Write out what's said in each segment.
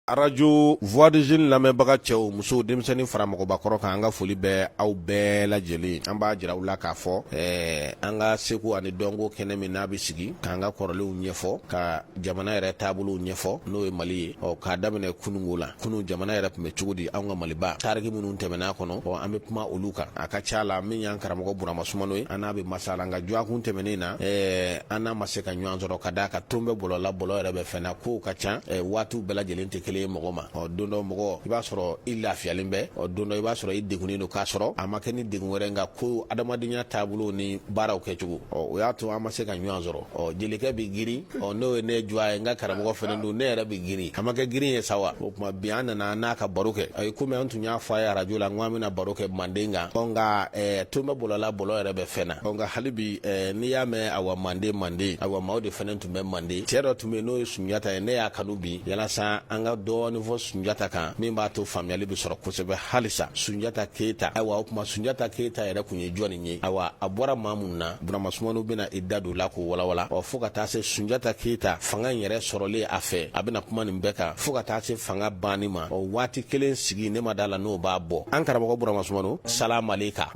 Arajo Voix des Jeunes lamɛnbaga cɛ o muso denmisɛnnin fara mɔgɔbakɔrɔ kan an ka foli bɛ aw bɛɛ lajɛlen an b'a jira u la k'a fɔ ɛɛ an ka seko ani dɔnko kɛnɛ min n'a bɛ sigi k'an ka kɔrɔlenw ɲɛfɔ ka jamana yɛrɛ taabolow ɲɛfɔ n'o ye mali ye ɔ k'a daminɛ kununko la kunun jamana yɛrɛ tun bɛ cogo di an ka maliba tariku minnu tɛmɛn'a kɔnɔ ɔ an bɛ kuma olu kan a ka ca la min y'an karamɔgɔ burama sumano ye an n'a bɛ masala nka dɔgɔkun tɛmɛnen na ɛɛ an n'a ma se ka ɲɔgɔn sɔrɔ ka d'a kan ton bɛ bɔlɔ la bɔlɔ yɛrɛ bɛ fɛn na kow ka ca waatiw bɛɛ lajɛlen tɛ kelen ye mɔgɔ ma ɔ don dɔ mɔgɔ i b'a sɔrɔ i lafiyalen bɛ ɔ don dɔ i b'a sɔrɔ i degunnen don k'a sɔrɔ a ma kɛ ni degun wɛrɛ nka ko adamadenya taabolo ni baaraw kɛcogo ɔ o y'a to an ma se ka ɲɔgɔn sɔrɔ ɔ jelikɛ bɛ girin ɔ n'o ye ne dɔgɔ ye n ka karamɔgɔ fana don ne yɛrɛ bɛ girin a ma kɛ girin ye sa wa o tuma bi an nana n'a ka baro kɛ i komi an tun y'a fɔ a ye arajo la n ko an bɛna baro kɛ manden kan ɔ nka ton bɛ bɔlɔ la bɔlɔ yɛrɛ bɛ fɛn na nka hali bi eh, n'i y'a mɛn awa mande mande awa maaw de fana tun bɛ mande cɛ dɔ tun bɛ n'o ye sunjata ye ne y'a kanu bi yalasa an ka dɔɔni fɔ sunjata kan min b'a to faamuyali bɛ sɔrɔ kosɛbɛ halisa sunjata keyita ayiwa o tuma sunjata keyita yɛrɛ tun ye jɔni ye awa a bɔra maa min na burama sumano bɛna i da don la k'o walawala ɔ fɔɔ ka taa se sunjata keyita fanga in yɛrɛ sɔrɔlen a fɛ a bɛna kuma nin bɛɛ kan fɔɔ ka taa se fanga banni ma ɔ waati kelen sigi ne ma d'a la n'o b'a bɔ an karamɔgɔ burama sumano salamaleka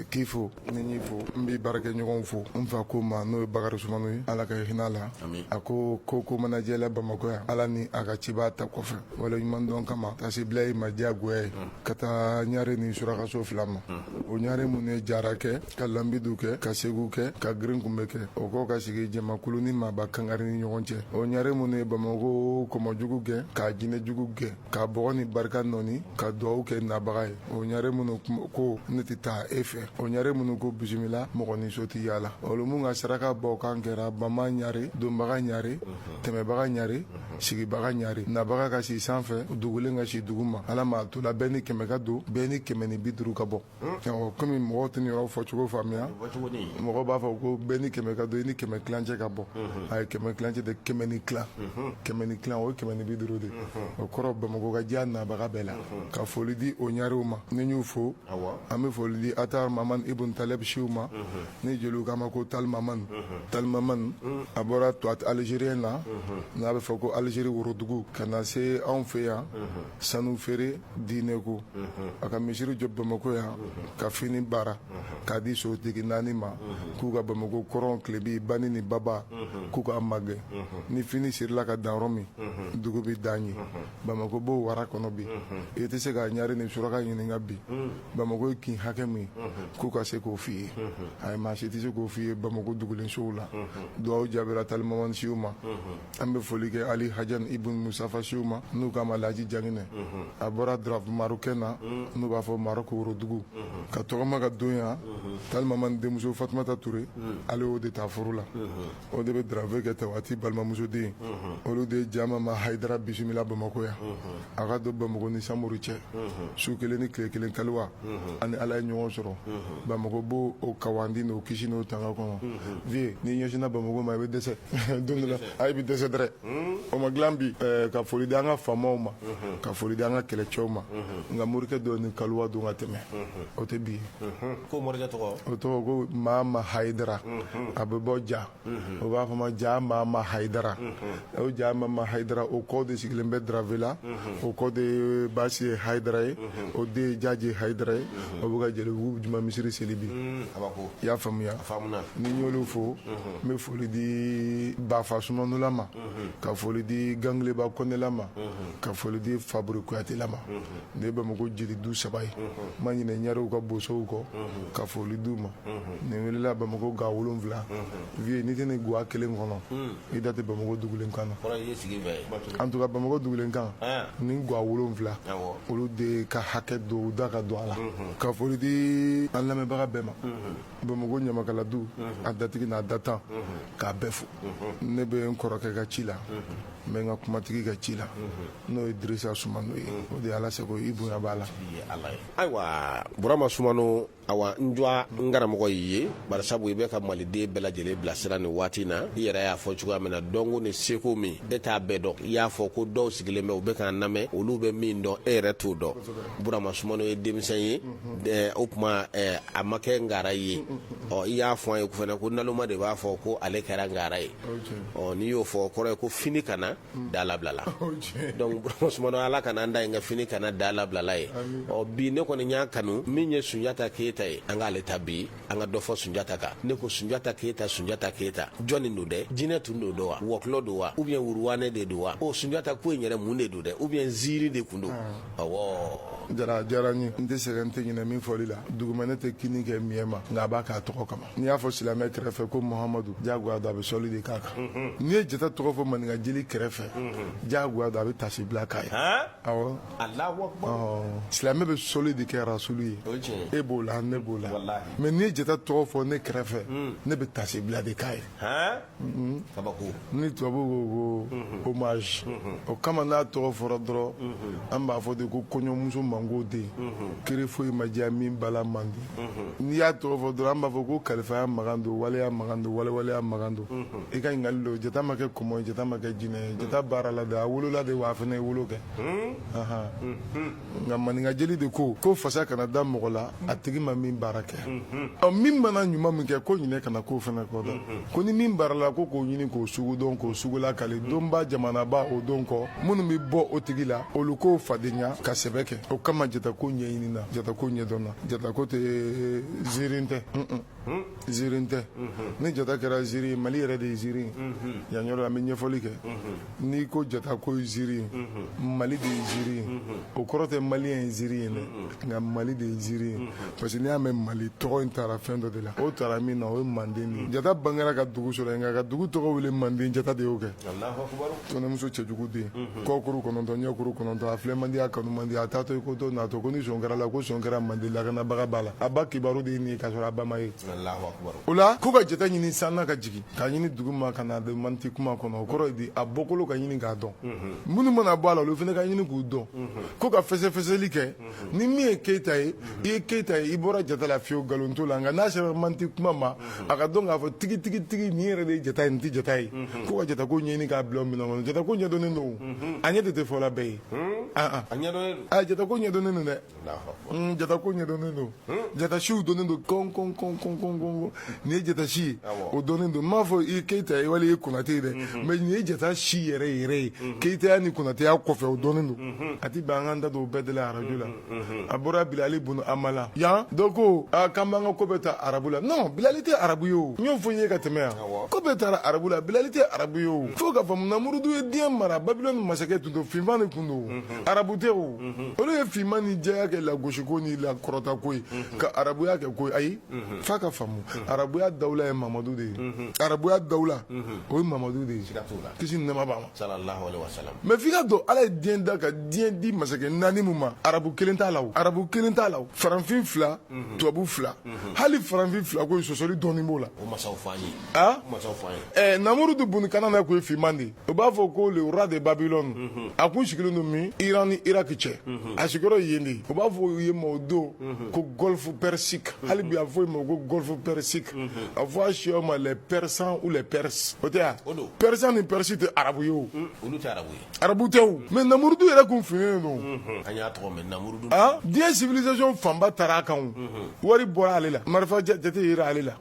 k'i fo ni n y'i fo n b'i baarakɛɲɔgɔnw fo n fa ko n ma n'o ye bakari sumano ye ala ka hinɛ a la a ko ko ko mana jɛ la bamakɔ yan ala ni a ka ciba ta kɔfɛ waleɲumandɔn kama ka se bila ye ma diyagoya ye ka taa ɲare ni surakaso fila ma o ɲare minnu ye jara kɛ ka lambidu kɛ ka segu kɛ ka girinkunbɛ kɛ o kɔ ka sigi jamakulu ni maaba kangari ni ɲɔgɔn cɛ o ɲare minnu ye bamakɔ kɔmɔjugu gɛn ka jinɛjugu gɛn ka bɔgɔ ni barika nɔɔni ka dugawu kɛ nabaga ye o ɲare minnu ko ne tɛ taa e fɛ o ɲare minnu ko bisimila mɔgɔninso tɛ yaala olu minnu ka sarakabɔkan kɛra bama ɲare donbaga ɲare tɛmɛbaga ɲare sigibaga ɲare nabaga ka si sanfɛ dugulen ka si duguma ala m'a tola bɛɛ ni kɛmɛ ka don bɛɛ ni kɛmɛ ni bi duuru ka bɔ kɔmi mɔgɔw tɛ nin yɔrɔ fɔcogo faamuya mɔgɔw b'a fɔ ko bɛɛ ni kɛmɛ ka don i ni kɛmɛ kilancɛ ka bɔ ayi kɛmɛ kilancɛ tɛ kɛmɛ ni kilan o ye kɛmɛ ni bi duuru de o kɔrɔ bamakɔ ka diya nabaga bɛɛ la ka foli di o ɲarew ma ni n y'u fo an bɛ foli di atar mamani ibn talibu siw ma ni jeliw k'a ma ko talimamani a bɔra tuat algérien na n'a bɛ fɔ ko alizeri worodugu ka na se anw fɛ yan sanu feere diinɛko a ka misiri jɔ bamako yan ka fini baara k'a di sotigi naani ma k'u ka bamako kɔrɔn tilebi bani ni baba k'u k'a magɛn ni fini sirila ka dan yɔrɔ min dugu bɛ dan yen bamako b'o wara kɔnɔ bi i tɛ se ka ɲare ni suraka ɲininka bi bamako ye kin hakɛ min k'u ka se k'o f'i ye ayi maa si tɛ se k'o f'i ye bamako dugulensow la duwawu jaabira talimamani siw ma an bɛ foli kɛ ali hajan ibun musafasiw ma n'u k'a ma laji janginɛ a bɔra darafe marɔku na n'u b'a fɔ marɔku worodugu ka tɔgɔma ka don yan talimaman denmuso fatumata ture ale o de taa furu la o de bɛ darafe kɛ tawati balimamusoden olu de ye ja mama hayidara bisimila bamakɔ yan a ka don bamako ni samori cɛ su kelen ni tile kelen kaliwa ani ala ye ɲɔgɔn sɔrɔ bamako b'o o kawandi n'o kisi n'o tanga kɔnɔ vie n'i ɲɛsinna bamako ma i bɛ dɛsɛ don dɔ la i bɛ dɛsɛ dɛrɛ o ma dilan bi ka foli di an ka faamaw ma ka foli di an ka kɛlɛcɛw ma nka morikɛ dɔ ni kaliwa don ka tɛmɛ o tɛ bi ko morikɛ tɔgɔ o tɔgɔ ko mama hayidara a bɛ bɔ ja u b'a fɔ ma ja mama hayidara o ja mama hayidara o kɔ de sigilen bɛ darafe la o kɔ de ye baasi ye hayidara ye o de ye jaji hayidara ye o bɛ ka jelibugu juma misiri seli bi kabako i y'a faamuya faamuna ni n y'olu fo n bɛ foli di bafa sumanula ma ka foli di gangeleba kɔnɛla ma ka foli di faburi kuyatela ma ne ye bamako jeli du saba ye n ma ɲinɛ ɲarew ka bosow kɔ ka foli di u ma nin welela bamakɔ ga wolonwula vie n'i tɛ nin guwa kelen kɔnɔ i da tɛ bamakɔ dugulen kan na en tout cas bamakɔ dugulen kan ni guwa wolonwula olu de ka hakɛ don u da ka don a la ka foli di an lamɛnbaga bɛɛ ma bamakɔ ɲamakala du a datigi n'a datan k'a bɛɛ fo ne bɛ n kɔrɔkɛ ka ci la n bɛ n ka kumatigi ka ci la n'o ye dirisa sumano ye o de ye ala sago i bonya b'a la ayiwa burama sumano awa n dwa n karamɔgɔ y'i ye barisabu i bɛ ka maliden bɛɛ lajɛlen bilasira nin waati na i yɛrɛ y'a fɔ cogoya min na dɔnko ni seko min e t'a bɛɛ dɔn i y'a fɔ ko dɔw sigilen bɛ u bɛ k'an lamɛn olu bɛ min dɔn e yɛrɛ t'o dɔn burama sumano ye denmisɛn ye ɛɛ, o tuma ɛɛ, a ma kɛ ngara ye ɔ i y'a fɔ an ye fana ko naloma de b'a fɔ ko ale kɛra ngara ye ɔ n'i y'o fɔ o kɔrɔ ye ko fini kana da labilala donc sumano ala kana an da yen ka fini kana da labilala ye ɔ bi ne kɔni y'a kanu min ye sunjata keyita ye an k'ale ta bi an ka dɔ fɔ sunjata kan ne ko sunjata keyita sunjata keyita jɔni don dɛ jinɛ tun don don wa wɔkulɔ don wa ou bien wuruwanɛ de don wa o sunjata ko in yɛrɛ mun de don dɛ ou bien ziiri de kun don awɔ jara diyara n ye n tɛ sɛgɛn n tɛ ɲinɛ min fɔli la dugumɛnɛ tɛ kinni kɛ miɲɛ ma nka a b'a k'a tɔgɔ kama n'i y'a fɔ silamɛ kɛrɛfɛ ko muhamadu jagoya don a bɛ sɔli de k'a kan n'i ye jata tɔgɔ fɔ maninka jeli kɛrɛfɛ jagoya don a bɛ tasi bila k'a ye awɔ silamɛ bɛ sɔli de kɛ rasulu ye e b'o la ne b'o la mais n'i ye jata tɔgɔ fɔ ne kɛrɛfɛ ne bɛ tasi bila de k'a ye ni tubabu ko ko hommage o kama n'a tɔgɔ fɔra dɔrɔn an b'a fɔ de ko kɔɲɔmuso mango den kere foyi ma diya min bala man di n'i y'a tɔgɔ fɔ dɔrɔn an b'a fɔ ko kalifaya magan don waleya magan don walewaleya magan don i ka ɲininkali don jata ma kɛ kɔmɔ ye jata ma kɛ jinɛ ye jata baarala de a wolola de wa a fana ye wolo kɛ nka maninkajeli de ko ko fasa kana da mɔgɔ la a tigi ma min baara kɛ ɔ min mana ɲuman min kɛ ko ɲinɛ kana k'o fana kɔ dɔn ko ni min baarala ko k'o ɲini k'o sugu dɔn k'o sugula kale donba jamanaba o don kɔ minnu bɛ bɔ o tigi la olu k'o fadenya ka sɛbɛ kɛ o kama jatako ɲɛɲinina jatako ɲɛdɔnna jatako tɛ ziirin tɛ ziiri tɛ ni jata kɛra ziiri mali yɛrɛ de ye ziiri yan yɔrɔ an bɛ ɲɛfɔli kɛ n'i ko jata ko ziiri mali de ye ziiri o kɔrɔ tɛ maliyɛn ye ziiri ye dɛ nka mali de ye ziiri parce que n'i y'a mɛn mali tɔgɔ in tara fɛn dɔ de la o tara min na o ye manden ye jata bangera ka dugu sɔrɔ yen nka ka dugu tɔgɔ wele manden jata de y'o kɛ kɔnɛmuso cɛjugu den kɔkuru kɔnɔntɔn ɲɛkuru kɔnɔntɔn a filɛ man di a kanu man di a taatɔ i ko dɔ natɔ ko ni sɔn kɛra la ko sɔn kɛra manden lakanabaga ba la a ba kibaru de ye nin ye k'a sɔrɔ a ba ma ye o la ko ka jata ɲini san na ka jigin k'a ɲini dugu ma ka na manti kuma kɔnɔ o kɔrɔ ye di a bɔkolo ka ɲini k'a dɔn minnu mana bɔ a la olu fana ka ɲini k'u dɔn ko ka fɛsɛfɛsɛli kɛ ni min ye keyita ye i ye keyita ye i bɔra jata la fiyewu nkalon t'o la nka n'a sera manti kuma ma a ka dɔn k'a fɔ tigitigitigi nin yɛrɛ de ye jata ye nin tɛ jata ye ko ka jatako ɲɛɲini k'a bila minɛn kɔnɔ jatako ɲɛdɔnnen don a ɲɛ de tɛ fɔla bɛɛ ye a jatako ɲɛdɔnnen don dɛ jatako ɲɛdɔnnen don jatasiw dɔnnen don kɔn kɔn kɔn kɔn kɔn nin ye jata si ye o dɔnnen don n m'a fɔ i ye keyita ye wali i ye konate ye dɛ mɛ nin ye jata si yɛrɛ yɛrɛ ye keyitaya ni konateya kɔfɛ o dɔnnen don a ti bɛn an k'an da don o bɛɛ de la arajo la a bɔra bilali bunu amala yan dɔ ko aa k'an b'an ka ko bɛɛ ta arabu la non bilali tɛ arabu ye o n y'o fɔ n ye ka tɛmɛ yan ko bɛɛ tara arabu la bilali tɛ arabu ye o fo k'a faamu namurudu ye diɲɛ mara babilɔni masakɛ tun don finman de tun don arabu tɛ o olu ye finman ni jɛya kɛ lagosiko ni lakɔrɔtako ye ka arabuya kɛ ko ye ayi f'a ka faamu arabuya dawula ye mamadu de ye arabuya dawula o ye mamadu de ye kisi ni nɛɛma b'a ma mɛ f'i k'a dɔn ala ye diɲɛ da ka diɲɛ di masakɛ naani min ma arabu kelen t'a la o arabu kelen t'a la o faranfin fila tubabu fila hali faranfin fila ko sɔsɔli dɔɔni b'o la a namurudu bunu kanana ko ye finman de ye u b'a fɔ ko le roi de babylone mhm. a kun sigilen don min iran ni iraki cɛ mhm. a sigiyɔrɔ yen de u b'a fɔ u ye ma o don mhm. ko golfe persique hali bi a fɔ ma ko golfe persique a fɔ a siyaw ma les persans ou les perses o tɛ ya persan ni persi tɛ arabu ye o arabu tɛ o mais namurudu yɛrɛ kun finnen don diɲɛ civilisation fanba taara a kan o wari bɔra ale la marifa jate yera ale la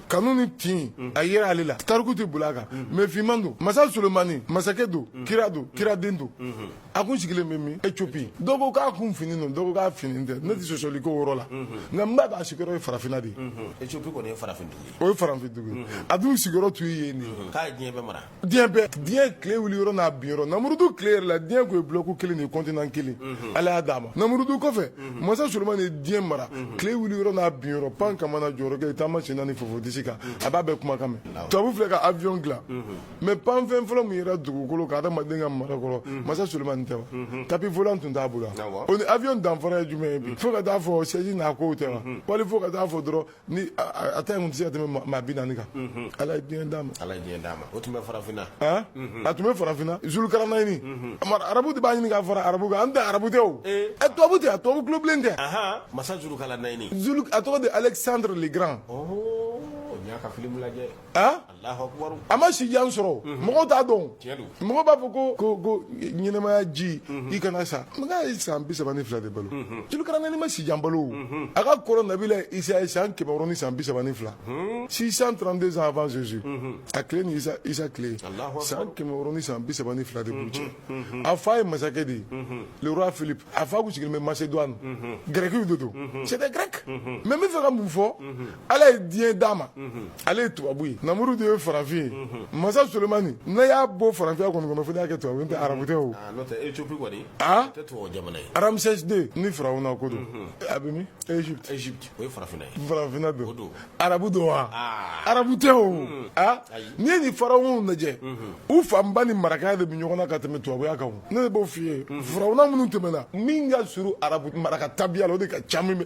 kanu ni tin mm. a yera ale la tariku tɛ boli a kan mm-hmm. mais finman don masa solomani masakɛ don mm. kira don mm. kiraden don mm-hmm. a kun sigilen bɛ min ethiopie dɔ ko k'a kun finnen don dɔ ko k'a finnen tɛ ne tɛ sɔsɔliko yɔrɔ la mm-hmm. nka n b'a dɔn a sigiyɔrɔ ye farafinna de ye ethiopie kɔni ye farafin dugu ye o ye farafin dugu ye a dun sigiyɔrɔ tun ye yen de ye k'a ye diɲɛ bɛɛ mara diɲɛ bɛɛ diɲɛ tile wuli yɔrɔ n'a bin yɔrɔ namurudu tile yɛrɛ la diɲɛ tun ye bloc kelen de ye continent kelen mhm. ala y'a d'a ma namurudu kɔfɛ mhm. masa solomani ye diɲɛ mara mhm. tile wuli yɔrɔ n'a bin yɔrɔ pan kamana jɔyɔrɔ kɛ taama sen naani fofo disi kan a b'a bɛɛ kumakan mɛn tubabu filɛ ka avion dilan mais pan fɛn fɔlɔ min yera dugukolo kan adamaden ka mara kɔrɔ masa solomani tɛ wa tapis volant tun t'a bolo o ni avion danfara ye jumɛn ye bi fo ka taa fɔ sɛji n'a kow tɛ wa wali fo ka taa fɔ dɔrɔn ni a ta tun tɛ se ka tɛmɛ maa bi naani kan ala ye diɲɛ d'a ma ala ye diɲɛ d'a ma o tun bɛ farafinna a tun bɛ farafinna zulukaranayini arabu de b'a ɲini k'a fara arabu kan an tɛ arabu tɛ o ɛ tubabu tɛ wa tubabu tulobilen tɛ masa zulukaranayini a tɔgɔ de alexandre le grand n y'a ka film lajɛ a ma si jan sɔrɔ mɔgɔ t'a dɔn mɔgɔ b'a fɔ ko ko ko ɲɛnamaya ji i kana sa n san bi saba ni fila de balo zulukaranayini ma si jan balo a ka kɔrɔ nabila isa ye san kɛmɛ wɔɔrɔ ni san bi saba ni fila six cent trente-deux ans avant jésus a tile ni isa isa tile san kɛmɛ wɔɔrɔ ni san bi saba ni fila de b'u cɛ a fa ye masakɛ de ye le roi philippe a fa kun sigilen bɛ macédoine gɛrɛkiw de don c'était grec mais n bɛ fɛ ka mun fɔ ala ye diɲɛ d'a ma ale ye tubabu ye namurudu ye farafin ye masa solomani ne y'a bɔ farafinya kɔni kɔnɔ fo y'a kɛ tubabu tɛ arabu tɛ o n'o tɛ ethiopie kɔni tɛ tubabu jamana ye ramsès deux ni farawuna ko don a bɛ min égypte o ye farafinna ye farafinna don arabu don wa arabu tɛ o a n'i ye nin farawunaw lajɛ u fanba ni maraka de bɛ ɲɔgɔn na ka tɛmɛ tubabuya kan ne de b'o f'i ye farawuna minnu tɛmɛna min ka surun arabu maraka tabiya la o de ka ca min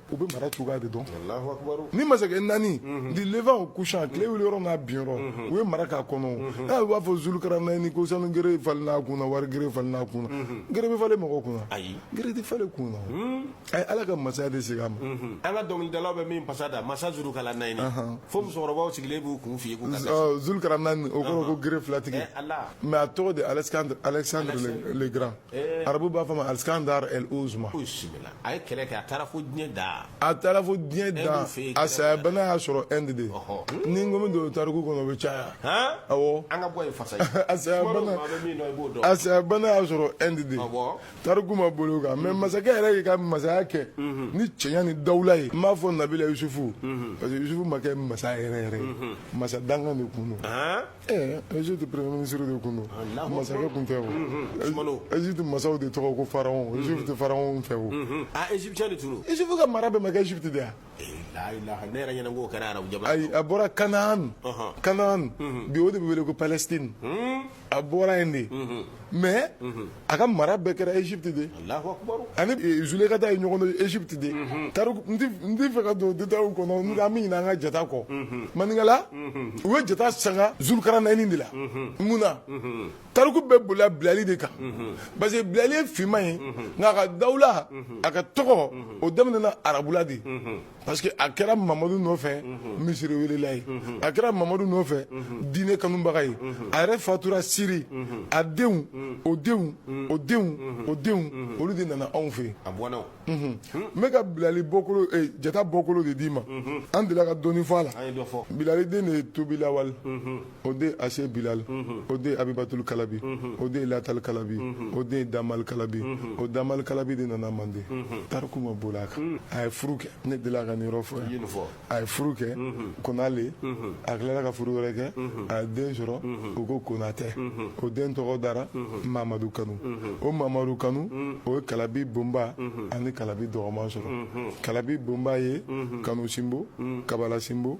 u bɛ mara cogoya de dɔn nin masakɛ naani du levant au couchant tile wuli yɔrɔ n'a bin yɔrɔ u ye mara k'a kɔnɔ n'a b'a fɔ zulukaranayini ko sanu gere falenna kun na wari gere falenna kun gere bɛ falen mɔgɔ kun ayi gere tɛ falen kun a ye ala ka masaya de se a ma an ka dɔnkilidala bɛ min fasa da masa zulukaranayini fo musokɔrɔba sigilen b'u kun fɔ zulukaranayini o kɔrɔ ko gere filatigi mais a tɔgɔ de alexandre alexandre le grand arabu b'a fɔ ma alexandre al uzuma a ye kɛlɛ kɛ a taara fo diɲɛ dan a taara fo diɲɛ dan a saya bana y'a sɔrɔ inde de ni n ko n bɛ don tariku kɔnɔ o bɛ caya awɔ an ka bɔ yen fasa a saya bana a saya bana y'a sɔrɔ inde de tariku ma boli a kan mais masakɛ yɛrɛ y'i ka masaya kɛ ni cɛɲa ni dawula ye n m'a fɔ nabila yusufu parce que yusufu ma kɛ masa yɛrɛ yɛrɛ ye masa dankan de kun don ɛɛ égypte premier ministre de kun don masakɛ kun tɛ o égypte masaw de tɔgɔ ko pharaon égypte pharaon fɛ o a égyptien de tun don yusufu ka mara bɛɛ ma kɛ égypte de ya ne yɛrɛ ɲɛna ko kɛra arabu jamana ayi a bɔra canaan canaan bi o de bɛ wele ko palestine a bɔra yen de mais a ka mara bɛɛ kɛra égypte de a ni zulekata ye ɲɔgɔn dɔn égypte de n tɛ fɛ ka don détails kɔnɔ an bɛ ɲina an ka jata kɔ maninkala u ye jata sanga zulukaranaani de la mun na tariku bɛɛ bolila bilali de kan parce que bilali ye finman ye nka a ka dawula a ka tɔgɔ o daminɛna arabula de parce que a kɛra mamadu nɔfɛ mhm. misiri welela ye mhm. a kɛra mamadu nɔfɛ mhm. diinɛ kanubaga ye a yɛrɛ fatura siri a denw o denw o denw o denw olu de nana anw fɛ n bɛ ka bilali bɔkolo eh, jata bɔkolo de d'i ma an delila ka dɔɔni fɔ a la bilali den de ye tobilawale o den ase bilali o den abibatuli kalabi o den latali kalabi o den damali kalabi o damali kalabi de nana mande tariku ma boli a kan a ye furu kɛ ne delila ka nin yɔrɔ fɔ yan a ye furu kɛ kona le a tilala ka furu wɛrɛ kɛ a ye den sɔrɔ u ko konatɛ o den tɔgɔ dara mamadu kanu o mamadu kanu o ye kalabi bonba ani kalabi dɔgɔman sɔrɔ kalabi bonba ye kanu sinbo kabala sinbo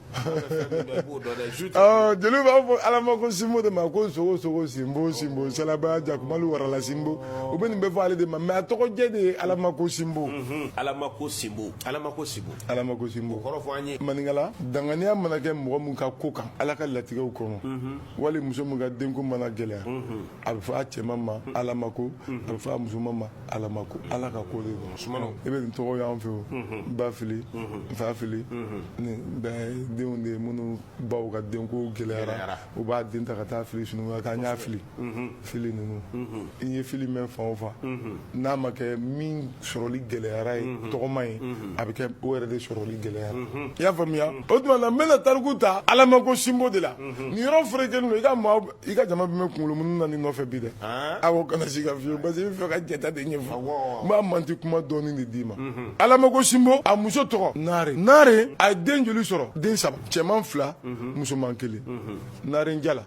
Ah, jeliw b'a fɔ alamako sinbo de ma ko sogosogo sinbo sinbo salaba jakumalu warala sinbo u bɛ nin bɛɛ fɔ ale de ma mais a tɔgɔjɛ de ye alamako sinbo mhm. alamako sinbo alamako sinbo alamako sinbo kɔrɔ fɔ an ye maninkala danganiya mana kɛ mɔgɔ min ka ko kan ala ka latigɛw kɔnɔ mhm. wali muso min ka denko mana gɛlɛya mhm. a bɛ fɔ a cɛman ma alamako a bɛ fɔ a musoman ma alamako ala ka ko de don i bɛ nin tɔgɔ y'an fɛ o n ba fili n fa fili nin bɛɛ ye denw de ye minnu baw ka denko gɛlɛyara u b'a den ta ka taa fili sunun kan k'an y'a fili fili ninnu i ye fili mɛn fan o fan n'a ma kɛ min sɔrɔli gɛlɛyara ye tɔgɔma ye a bɛ kɛ o yɛrɛ de sɔrɔli gɛlɛyara i y'a faamuya o tuma na n bɛna tariku ta alamako sinbo de la nin yɔrɔ ferekelen don i ka maa i ka jama bɛ mɛn kunkolo munu na nin nɔfɛ bi dɛ aw kana siga fiyewu parce que i bɛ fɛ ka jata de ɲɛfɔ n b'a manti kuma dɔɔni de d'i ma alamako sinbo a muso tɔgɔ naare naare a ye den joli sɔrɔ den saba cɛman fila musoman kelen naare jala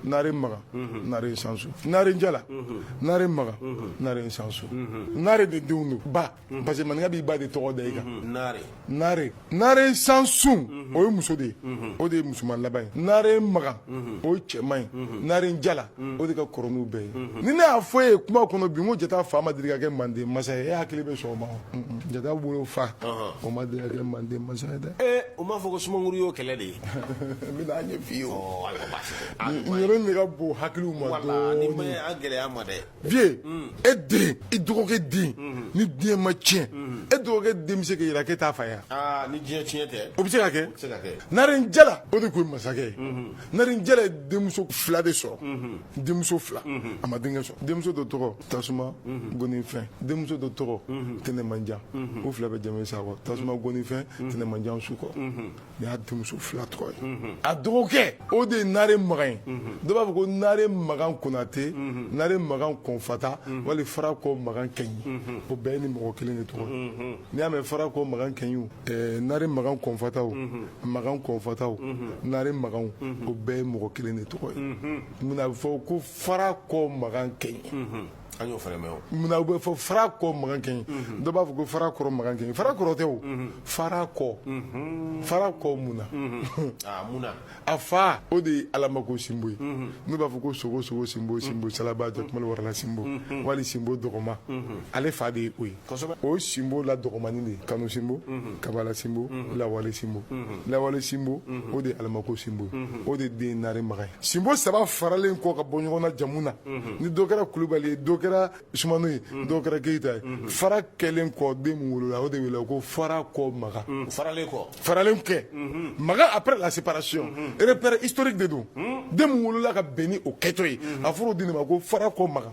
naare maga naare sansu naare jala naare maga naare sansu naare de denw don ba Mhm. parce que maninka b'i ba de tɔgɔ da i kan mhm. nare nare nare sansun mhm. o ye muso de ye o de ye musoman laban ye nare magan o ye cɛman ye nare jala o de ka kɔrɔ n'u bɛɛ ye ni ne y'a fɔ e ye kuma kɔnɔ bi n ko jata fa ma deli ka kɛ manden masa ye e hakili bɛ sɔn o ma jata wolofa o ma deli ka kɛ manden masa ye dɛ ee o m'a fɔ ko sumaworo y'o kɛlɛ de ye n bɛna a ɲɛf'i ye o yɔrɔ in de ka bon hakiliw ma dɔɔni ni ma ye a gɛlɛya ma dɛ vieux e den i dɔgɔkɛ den ni diɲɛ ma tiɲɛ e dɔgɔkɛ den bɛ se k'a yira k'e t'a fa ye wa? ni diɲɛ tiɲɛ tɛ o bɛ se ka kɛ se ka kɛ. naaren jala o de tun ye masakɛ ye naaren jala ye denmuso fila de sɔrɔ denmuso fila a ma denkɛ sɔrɔ denmuso dɔ tɔgɔ tasuma gonifɛn denmuso dɔ tɔgɔ tɛnɛmanjan u fila bɛ jama sakɔ tasuma gonifɛn tɛnɛmanjan sukɔ Nin y'a denmuso fila tɔgɔ ye a dɔgɔkɛ o de ye naare makan ye dɔ b'a fɔ ko naare makan konatɛ naare makan kɔnfata wali fara kɔ makan kɛɲi o bɛɛ ni mɔgɔ kelen de tɔgɔ n'i y'a mɛn fara kɔ makan kɛɲi naare makan kɔnfata makan kɔnfata naare makan o bɛɛ ye mɔgɔ kelen de tɔgɔ ye munna a bɛ fɔ ko fara kɔ makan kɛɲi An y'o fana mɛn o. Munna o bɛ fɔ fara kɔ makan kɛɲi. Unhun. Dɔ b'a fɔ ko fara kɔrɔ makan kɛɲi. Fara kɔrɔ tɛ o. Unhun. Fara kɔ. Unhun. Fara kɔ mun na. Unhun. Aa mun na. A fa o de ye Alamako Sinbo ye. Unhun. N'u b'a fɔ ko Sogo Sogo Sinbo Sinbo Salaba Jakumalo Warala Sinbo. Unhun. Wali Sinbo Dɔgɔma. Unhun. Ale fa de ye o ye. o sinbo la dɔgɔmani de kanu sinbo kabala sinbo lawale sinbo lawale sinbo o de alamako sinbo o de den nare maga ye sinbo saba faralen kɔ ka bɔ ɲɔgɔn na jamu na ni dɔ kɛra kulubali ye dɔ kɛra sumano ye dɔ kɛra keyita ye fara kɛlen kɔ den min wolola o de wele ko fara kɔ maga faralen kɔ faralen kɛ maga après la séparation repère historique de don den min wolola ka bɛn ni o kɛtɔ ye a fɔra o den de ma ko fara kɔ maga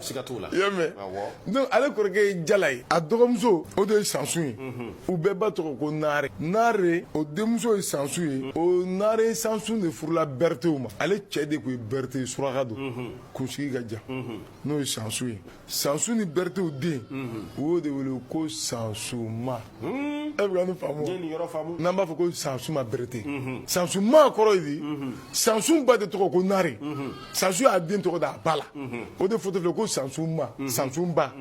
siga t'o la i y'a mɛn donc ale kɔrɔkɛ ye jala ye a dɔgɔmuso o de ye sansun ye u bɛɛ ba tɔgɔ ko naare naare o denmuso ye sansun ye o naare sansun de furula beretew ma ale cɛ de tun ye berete ye suraka don kunsigi ka jan n'o ye sansun ye sansun ni beretew den u y'o de wele ko sansuma e bɛ ne faamu i ye nin yɔrɔ faamu n'an b'a fɔ ko sansuma berete sansuma kɔrɔ ye di sansun ba de tɔgɔ ko nare sansun y'a den tɔgɔ da a ba la o de fɔtɔ filɛ ko sansuma sansunba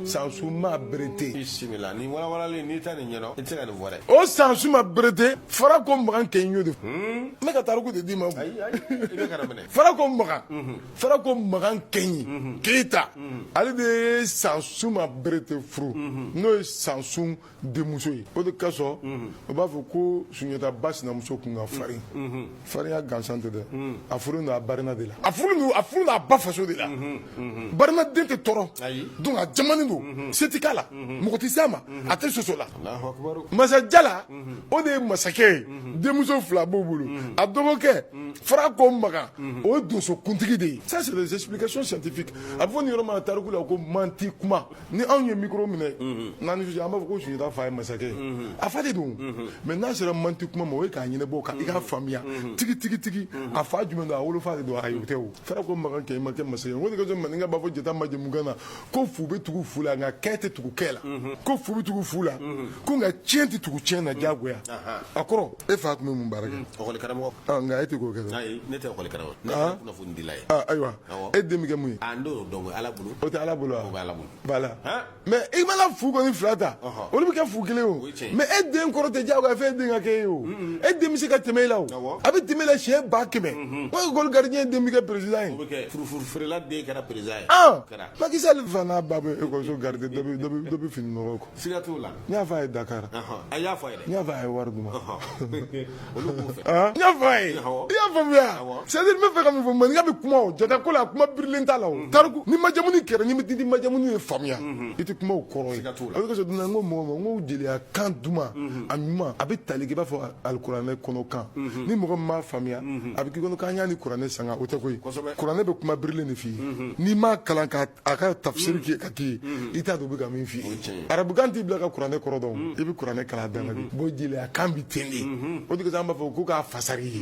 sansuma berete bisimila nin walawalalen n'i tɛ nin ɲɛdɔn i tɛ se ka nin fɔ dɛ o sansuma berete fara kɔ makan kɛɲi y'o de fɔ ne ka tariku de d'i ma o. ayi ayi i bɛ kana minɛ fara kɔ makan farako makan kɛɲi keyita ale de ye sansuma berete furu n'o ye sansun denmuso ye o de kosɔn o b'a fɔ ko sunjata ba sinamuso kun ka farin farinya gansan tɛ dɛ a furulen don a barina de la a a furulen don a ba faso de la barina den tɛ tɔɔrɔ donc a jamanen don se tɛ k'a la mɔgɔ tɛ se a ma a tɛ soso la masa jala o de ye masakɛ ye denmuso fila b'o bolo a dɔgɔkɛ farako makan o ye donsokuntigi de ye ça c'est des explications scientifiques a bɛ fɔ nin yɔrɔ ma tariku la ko manti kuma ni anw ye micro minɛ n'an ni an b'a fɔ ko sunjata fa ye masakɛ ye a fa de don mais n'a sera manti kuma ma o ye k'a ɲɛnabɔ ka i k'a faamuya tigi tigi tigi a fa jumɛn don a wolofa de don ayi o tɛ o farako makan kɛɲi ma kɛ masakɛ ye o de kosɔn maninka b'a fɔ jata majamukan na ko fu bɛ tugu fu la nka kɛ tɛ tugu kɛ la ko fu bɛ tugu fu la ko nka tiɲɛ tɛ tugu tiɲɛ na diyagoya a kɔrɔ e fa tun bɛ mun baara kɛ ekɔli karamɔgɔ ɔ nka e tɛ k'o kɛ dɛ ayi ne tɛ ekɔli karamɔgɔ ne tɛ kunnafonidila ye aa ayiwa e den bɛ kɛ mun ye a n t'o dɔn o ye ala bolo o tɛ ala bolo wa o bɛ ala bolo voilà mais i mana fu kɔni fila ta olu bɛ kɛ fu kelen o mais e den kɔrɔ tɛ diyagoya f'e den ka k'e ye o e den bɛ se ka tɛmɛ e la o a bɛ tɛmɛ e la siɲɛ ba kɛmɛ o ekɔli garidiɲɛ den bɛ kɛ peresidan ye furufuru feerela den kɛra peresidan ye Macky Sall fa n'a ba bɛ ekɔliso garidi dɔ bɛ fini nɔgɔ ko siga t'o la n y'a fɔ a ye dakari a y'a fɔ n y'a fɔ a ye wari d'u ma i y'a faamuya c'est-à-dire n bɛ fɛ ka min fɔ maninka bɛ kuma jata ko la kuma birilen t'a la tariku ni majamu kɛlen bɛ di di majamu ye faamuya i tɛ kuma kɔrɔ ka la a dunan n ko mɔgɔ ma n ko jeliya kan duman a ɲuman a bɛ tali kɛ i b'a fɔ alikuranɛ kɔnɔkan ni mɔgɔ min m'a faamuya a bɛ k'i kɔnɔ k'an y'a ni kuranɛ sanga o tɛ koyi Kuranɛ bɛ kuma birilen de f'i ye n'i m'a kalan k'a ka tafsiri kɛ ka k'i ye i t'a dɔn u bɛ ka min fɔ i ye arabukan t'i bila ka kuranɛ kɔrɔ dɔn i bɛ kuranɛ kalan dan b'o jeliya kan bɛ ten de o de kosɔn an b'a fɔ ko k'a fasari ye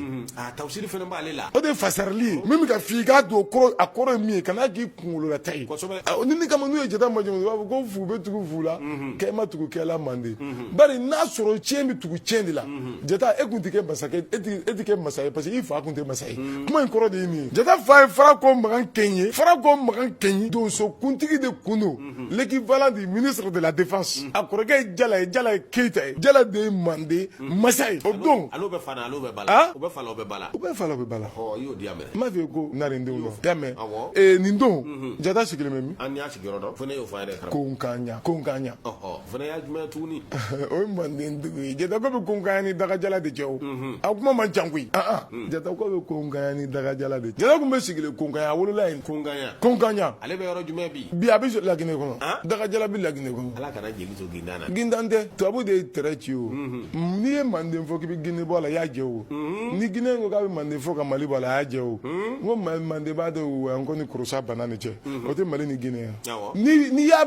tafsiri fana b'ale la o de ye fasarili ye min bɛ k'a f'i ye k'a don kɔrɔ a kɔrɔ ye min ye kana k'i kunkolola ta ye nin kama n'u ye jata majamu u b'a fɔ ko fu bɛ tugu fu la kɛ ma tugu kɛ la mande bari n'a sɔrɔ cɛ bɛ tugu cɛ de la jata e tun tɛ masa e tɛ kɛ masa ye parce que i fa tun tɛ masa ye kuma in kɔrɔ de ye nin ye jata fa ye farako makan kɛɲi ye farako makan kɛɲi donsokuntigi de kun don l'équivalent du ministre de la défense a kɔrɔkɛ jala ye jala ye keyita ye jala de ye mande masa ye o don bɛ bɛ bala bɛ bala bɛ bala n m'a f'i ye ko na nin don nin don jata sigilen bɛ min y'o ko ko O fana y'a jumɛn tuguni o ye manden dugu ye jata ko bɛ konkan ni dagajala de cɛ o a kuma man ca koyi jata ko bɛ konkan ni dagajala de jata tun bɛ sigilen konkan a wolola yen konkanɲa konkanɲa ale bɛ yɔrɔ jumɛn bi bi a bɛ laginɛ kɔnɔ dagajala bɛ laginɛ kɔnɔ ala kana jeli to gintan na gintan tɛ tubabu de ye tɛrɛ ci o n'i ye manden fɔ k'i bɛ gine bɔ a la i y'a jɛ o ni gine ko k'a bɛ manden fɔ ka mali bɔ a la a y'a jɛ o ko manden b'a dɔn an ko ni Kurusa bana ni cɛ o tɛ mali ni gine yan n'i y'a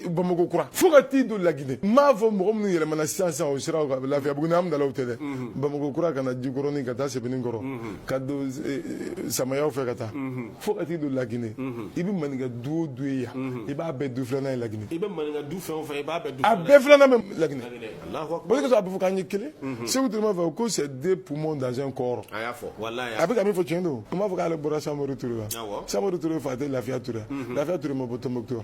Bamakɔ kura fo ka t'i don laginɛ n m'a fɔ mɔgɔ minnu yɛlɛmana sisan sisan o siraw kan Lafiyabugu ni Amdalayi tɛ dɛ Bamakɔ kura ka na jikɔrɔni ka taa Sebeninkɔrɔ ka don samayaw fɛ ka taa fo ka t'i don laginɛ i bɛ maninka du o du ye yan i b'a bɛɛ du filanan ye laginɛ i bɛ maninka du fɛn o fɛn i b'a bɛɛ du a bɛɛ filanan bɛ laginɛ o de kosɔn a bɛ fɔ k'an ye kelen Seku Ture m'a fɔ ko c'est deux poumons dans un corps a y'a fɔ walahi a bɛ ka min fɔ tiɲɛ don u m'a fɔ k'ale bɔra Samori Ture la Samori Ture fa tɛ Lafiya Ture wa Lafiya Ture ma bɔ Tɔnbukutu wa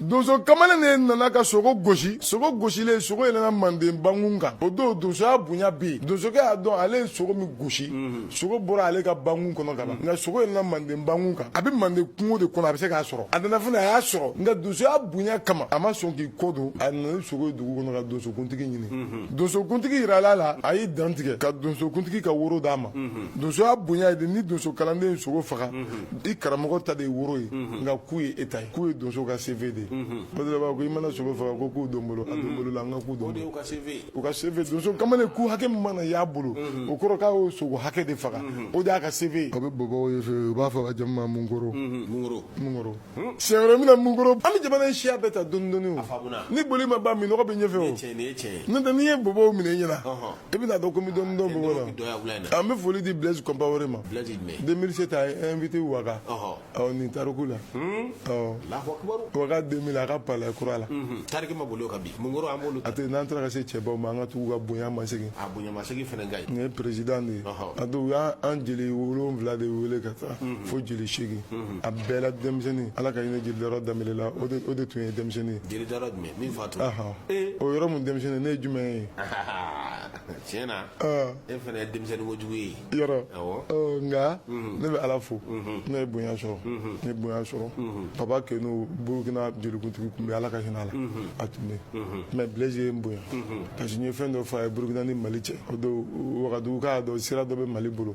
donso kamalen de nana ka sogo gosi sogo gosilen sogo yɛlɛnna manden bankun kan o don donsoya bonya bɛ yen donsokɛ y'a dɔn ale ye sogo min gosi sogo bɔra ale ka bankun kɔnɔ ka ban nka sogo yɛlɛnna manden bankun kan a bɛ manden kungo de kɔnɔ a bɛ se k'a sɔrɔ a nana fana a y'a sɔrɔ nka donsoya bonya kama a ma sɔn k'i kɔ don a nana ni sogo ye dugu kɔnɔ ka donsokuntigi ɲini donsokuntigi yirala a la a y'i dantigɛ ka donsokuntigi ka woro d'a ma donsoya bonya ye de ni donso kalanden ye sogo faga I karamɔgɔ ta de ye woro ye nka ku ye e ta ye ku ye donso ka CV de ye o de la u b'a fɔ ko i mana sogo faga ko ku don bolo a bolo la an ka ku don u ka CV donso kamalen ku hakɛ min mana y'a bolo o kɔrɔ k'a y'o sogo hakɛ de faga o de y'a ka CV ye o bɛ bɔbɔw ye fɛ u b'a fɔ ka jamu ma Munkoro siɲɛ wɛrɛ n bɛna Munkoro an bɛ jamana siya bɛɛ ta dɔɔni dɔɔni ni boli ma ban minnɔgɔ bɛ ɲɛfɛ n'o tɛ ni n ye bɔbɔw minɛ i ɲɛna i bɛna dɔn ko n bɛ dɔɔni dɔn bɔbɔ la an bɛ foli di Blaise Compaoré ma 2007 a ye invité Waga ɔ nin tariku la ɔ Waga 2000 a ka palais kura la tariki ma boli o kan bi Munkoro an b'olu a tɛ n'an taara ka se cɛbaw ma an ka tugu ka bonya masegin a bonya masegin fana ka ɲi nin ye président de ye a don u y'an jeli wolonwula de wele ka taa fo jeli seegin a bɛɛ la denmisɛnnin Ala ka hinɛ jeli Dayɔrɔ Danbele la o de tun ye denmisɛnnin ye jeli Dayɔrɔ jumɛn min fatura o yɔrɔ min denmisɛnnin ne ye jumɛn ye tiɲɛ na e fana ye denmisɛnnin kojugu ye yɔrɔ nka ne bɛ ala fo ne ye bonya sɔrɔ ne ye bonya sɔrɔ Baba Kenu burukina jelikuntigi tun bɛ ala ka hinɛ a la a tun bɛ mais Blaise ye n bonya parce que n ye fɛn dɔ fɔ a ye burukina ni mali cɛ o don wagadugu k'a dɔn sira dɔ bɛ mali bolo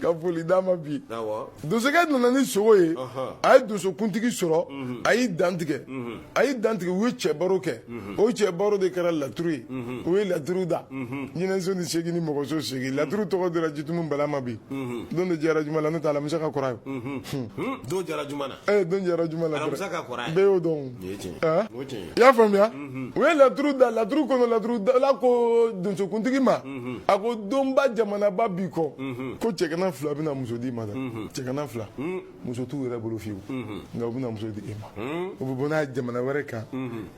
ka foli d'a ma bi donsokɛ nana ni sogo ye a ye donsokuntigi sɔrɔ a y'i dantigɛ a y'i dantigɛ u ye cɛ baro kɛ o cɛ baro de kɛra laturu ye u ye laturu da jinɛso seegin ni mɔgɔso seegin laturu tɔgɔ dira jitumu Bala ma bi don de jɛra juma la n'o tɛ alamisa ka kɔrɔ ye Eh, don jɛra juma la dɔrɔn bɛɛ y'o dɔn ah? i y'a faamuya mhm. u ye laturu da laturu kɔnɔ laturu dala ko donsokuntigi ma mhm. a ko donba jamanaba b'i kɔ mhm. ko cɛgana fila bɛna muso d'i ma dɛ cɛgana fila muso t'u yɛrɛ bolo fiyewu nka u bɛna muso di e ma u bɛ bɔ n'a ye jamana wɛrɛ kan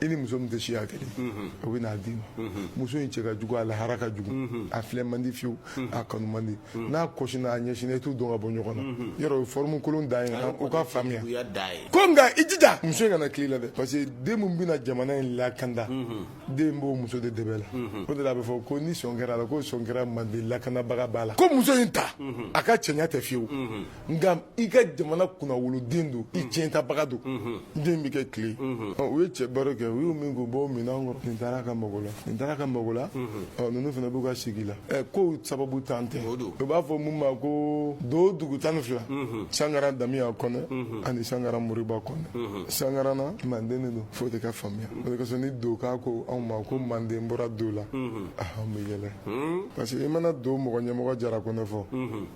i ni muso min tɛ siya kelen u bɛ n'a d'i ma muso in cɛ ka jugu a lahara ka jugu a filɛ man di fiyewu a kanu man di n'a kɔsinna a ɲɛsinna i t'u dɔn ka bɔ ɲɔgɔn na yɔrɔ o ye forme kolon da ye u ka faamuya ko nka i jija muso in kana kila i la dɛ parce que den min bɛna jamana in lakanda den b'o muso de dɛbɛ la o de la a bɛ fɔ ko ni sɔn kɛra a la ko sɔn kɛra mande lakanabaga ba la ko muso in ta a ka cɛnya tɛ fiyewu nka i ka jamana kunnawoloden don i tiɲɛtabaga don n den bɛ kɛ tile u ye cɛ baro kɛ u y'u min k'u bɔ minɛn kɔrɔ nin taara ka mago la nin taara ka mago la ninnu fana b'u ka sigi la ɛ kow sababuntan tɛ u b'a fɔ mun ma ko do dugu tan ni fila sankara damiya kɔnɛ ani sankara moriba kɔnɛ sankara na manden de don fo de ka faamuya o de kosɔn ni doka ko anw ma ko manden bɔra do la an bɛ yɛlɛ parce que i mana do mɔgɔ ɲɛmɔgɔ jara kɔnɛ fɔ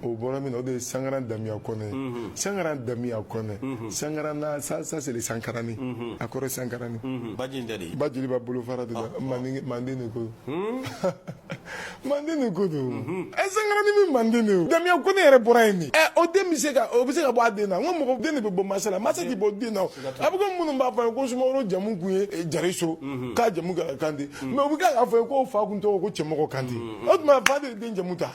o bɔra min na o de ye sangaran damiya kɔnɛ sangaran damiya kɔnɛ sangaran na ça ça c'est le sankarani a kɔrɔ sankarani baji in tɛ de ba jeliba bolofara de la manden manden de ko manden de ko don ɛ sankarani min manden de o damiya kɔnɛ yɛrɛ bɔra yen de ɛ o den bɛ se ka o bɛ se ka bɔ a den na n ko mɔgɔ den de bɛ bɔ masa la masa tɛ bɔ den na o a bɛ komi minnu b'a fɔ a ye ko sumaworo jamu kun ye jariso k'a jamu kɛra kante mais u bɛ k'a fɔ a ye k'o fa kun tɔgɔ ko cɛmɔgɔ kante o tuma fa de ye den jamu ta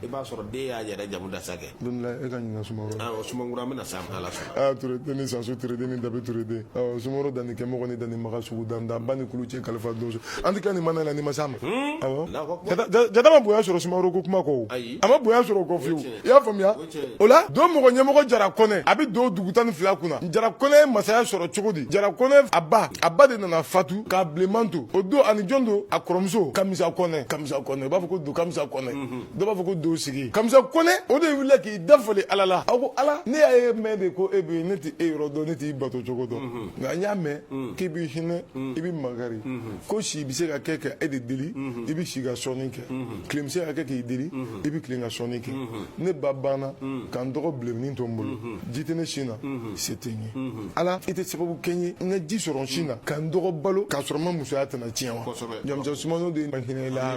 i b'a sɔrɔ den y'a yɛrɛ jamu da sa kɛ e ka ɲininka sumaworo awɔ sumaworo an bɛna s'a ma n'ala sɔnna aa ture den ni sansu ture den ni dabi ture den awɔ sumaworo danni kɛmɔgɔ ni danni maga sugu dan dan ba ni kulu cɛ kalifa donso an tɛ kila nin maana la ni n ma s'a ma awɔ Jata- Jata- jata ma bonya sɔrɔ sumaworo ko kuma kɔ Ayi. a ma bonya sɔrɔ o kɔ fiyewu i y'a faamuya tiɲɛ. o la do mɔgɔ ɲɛmɔgɔ jara kɔnɛ a bɛ do dugu tan ni fila kunna jara kɔnɛ ye masaya sɔrɔ cogo di jara kɔnɛ a ba a ba de nana fatu k'a bilenman to o don ani jɔn don a kɔrɔmuso kamisa kɔnɛ kamisa kɔnɛ u b'a fɔ ko do kamisa kɔnɛ dɔ b'a fɔ ko do sigi kamisa kɔnɛ o de wulila k'i dafalen ala la a ko ala ne y'a ye mɛn de ko e bɛ yen ne tɛ e yɔrɔ dɔn ne t'i bato cogo dɔn nka n y'a mɛn k'i bɛ hinɛ i bɛ makari ko si bɛ se ka kɛ ka e de deli i bɛ si ka sɔnni kɛ tile bɛ se ka kɛ k'i deli i bɛ tilen ka sɔnni kɛ ne ba banna ka n dɔgɔ bilennin to n bolo ji tɛ ne sin na se tɛ n ye ala i tɛ sababu kɛ n ye n ka ji sɔrɔ n sin na ka n dɔgɔ balo k'a sɔrɔ n ma musoya tana tiɲɛ wa jamusa sumano de ye ma hinɛ i la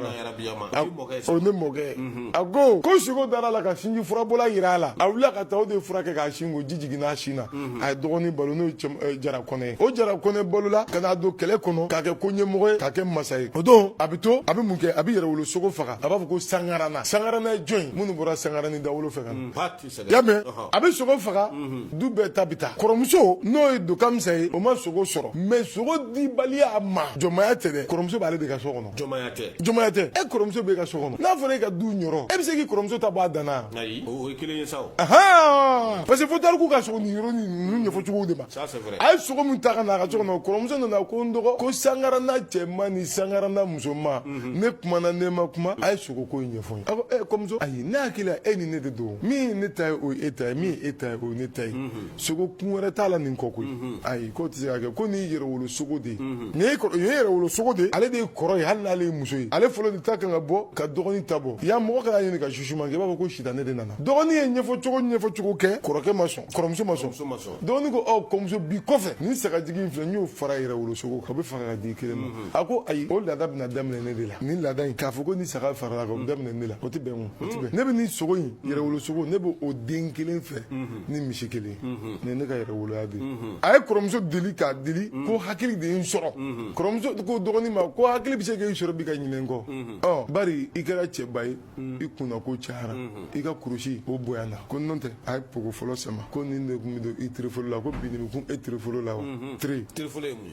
o ne mɔkɛ a ko ko siko dara a la ka sinji furabɔla jira a la a wulila ka taa o de fura kɛ k'a sin ko ji jiginna a sin na a ye dɔgɔnin balo n'o ye jara kɔnɛ ye o jara kɔnɛ balola ka n'a don kɛlɛ kɔnɔ k'a kɛ ko ɲɛmɔgɔ ye k'a kɛ masa ye o don a bɛ to a bɛ mun kɛ a bɛ yɛrɛwolosogo faga a b'a fɔ ko sangarana sangarana ye jɔn ye minnu bɔra sangarani dawolo fɛ ka na y'a mɛn a bɛ sogo faga du bɛɛ ta bɛ taa kɔrɔmuso n'o ye do kamisa ye o ma sogo sɔrɔ mais sogo dibaliya ma jɔnmaya tɛ dɛ kɔrɔmuso b'ale de ka so kɔnɔ jɔnmaya tɛ jɔnmaya tɛ e kɔrɔmuso b'e ka so kɔnɔ n'a fɔra e ka du niyɔrɔ e bɛ se k'i kɔrɔmuso ta bɔ a dan na ayi o ye kelen ye sa o ahan parce que fo tariku ka sogo niyɔrɔ nin ninnu ɲɛfɔ cogo de ma ça c'est vrai a ye sogo min ta ka na a ka so kɔnɔ kɔrɔmuso nana ko n dɔgɔ ko sangarana cɛman ni sangarana musoman ne kumana ne ma kuma a ye sogo ko in ɲɛfɔ ayi ne hakili la e ni ne de don min ye ne ta ye o ye e ta ye min ye e ta ye o ye ne ta ye sogo kun wɛrɛ t'a la nin kɔ koyi ayi k'o tɛ se ka kɛ ko nin ye yɛrɛwolo sogo de ye nin ye yɛrɛwolo sogo de ye ale de ye kɔrɔ ye hali n'ale ye muso ye ale fɔlɔ de ta kan ka bɔ ka dɔgɔnin ta bɔ y'a mɔgɔ kana ɲini ka susu ma i b'a fɔ ko sitanɛ de nana dɔgɔnin ye ɲɛfɔ cogo ɲɛfɔ cogo kɛ kɔrɔkɛ ma sɔn kɔrɔmuso ma sɔn dɔgɔnin ko kɔrɔmuso bi kɔfɛ nin sagajigi filɛ n y'o fara yɛrɛwolo sogo kan o bɛ fara ka d'i kelen ma a ko ayi o laada bɛna daminɛ ne de la nin laada in k'a fɔ ko ni saga farala kan o daminɛ ne la o tɛ bɛn o tɛ bɛn ne bɛ nin sogo in yɛrɛwolo sogo ne bɛ o den kelen fɛ ni misi kelen nin ye ne ka yɛrɛwoloya de a ye kɔrɔmuso deli k'a deli ko hakili de ye n sɔrɔ kɔrɔmuso ko dɔgɔnin ma ko hakili bɛ se k'e sɔrɔ bi ka ɲinɛ n kɔ ɔ bari i kɛra cɛba ye i kunnako cayara i ka kurusi o bonyana ko n'o tɛ a ye pogo fɔlɔ sama ko nin de tun bɛ don i tirifolo la ko bi nin bɛ kun e tirifolo la wa tiri tirifolo ye mun ye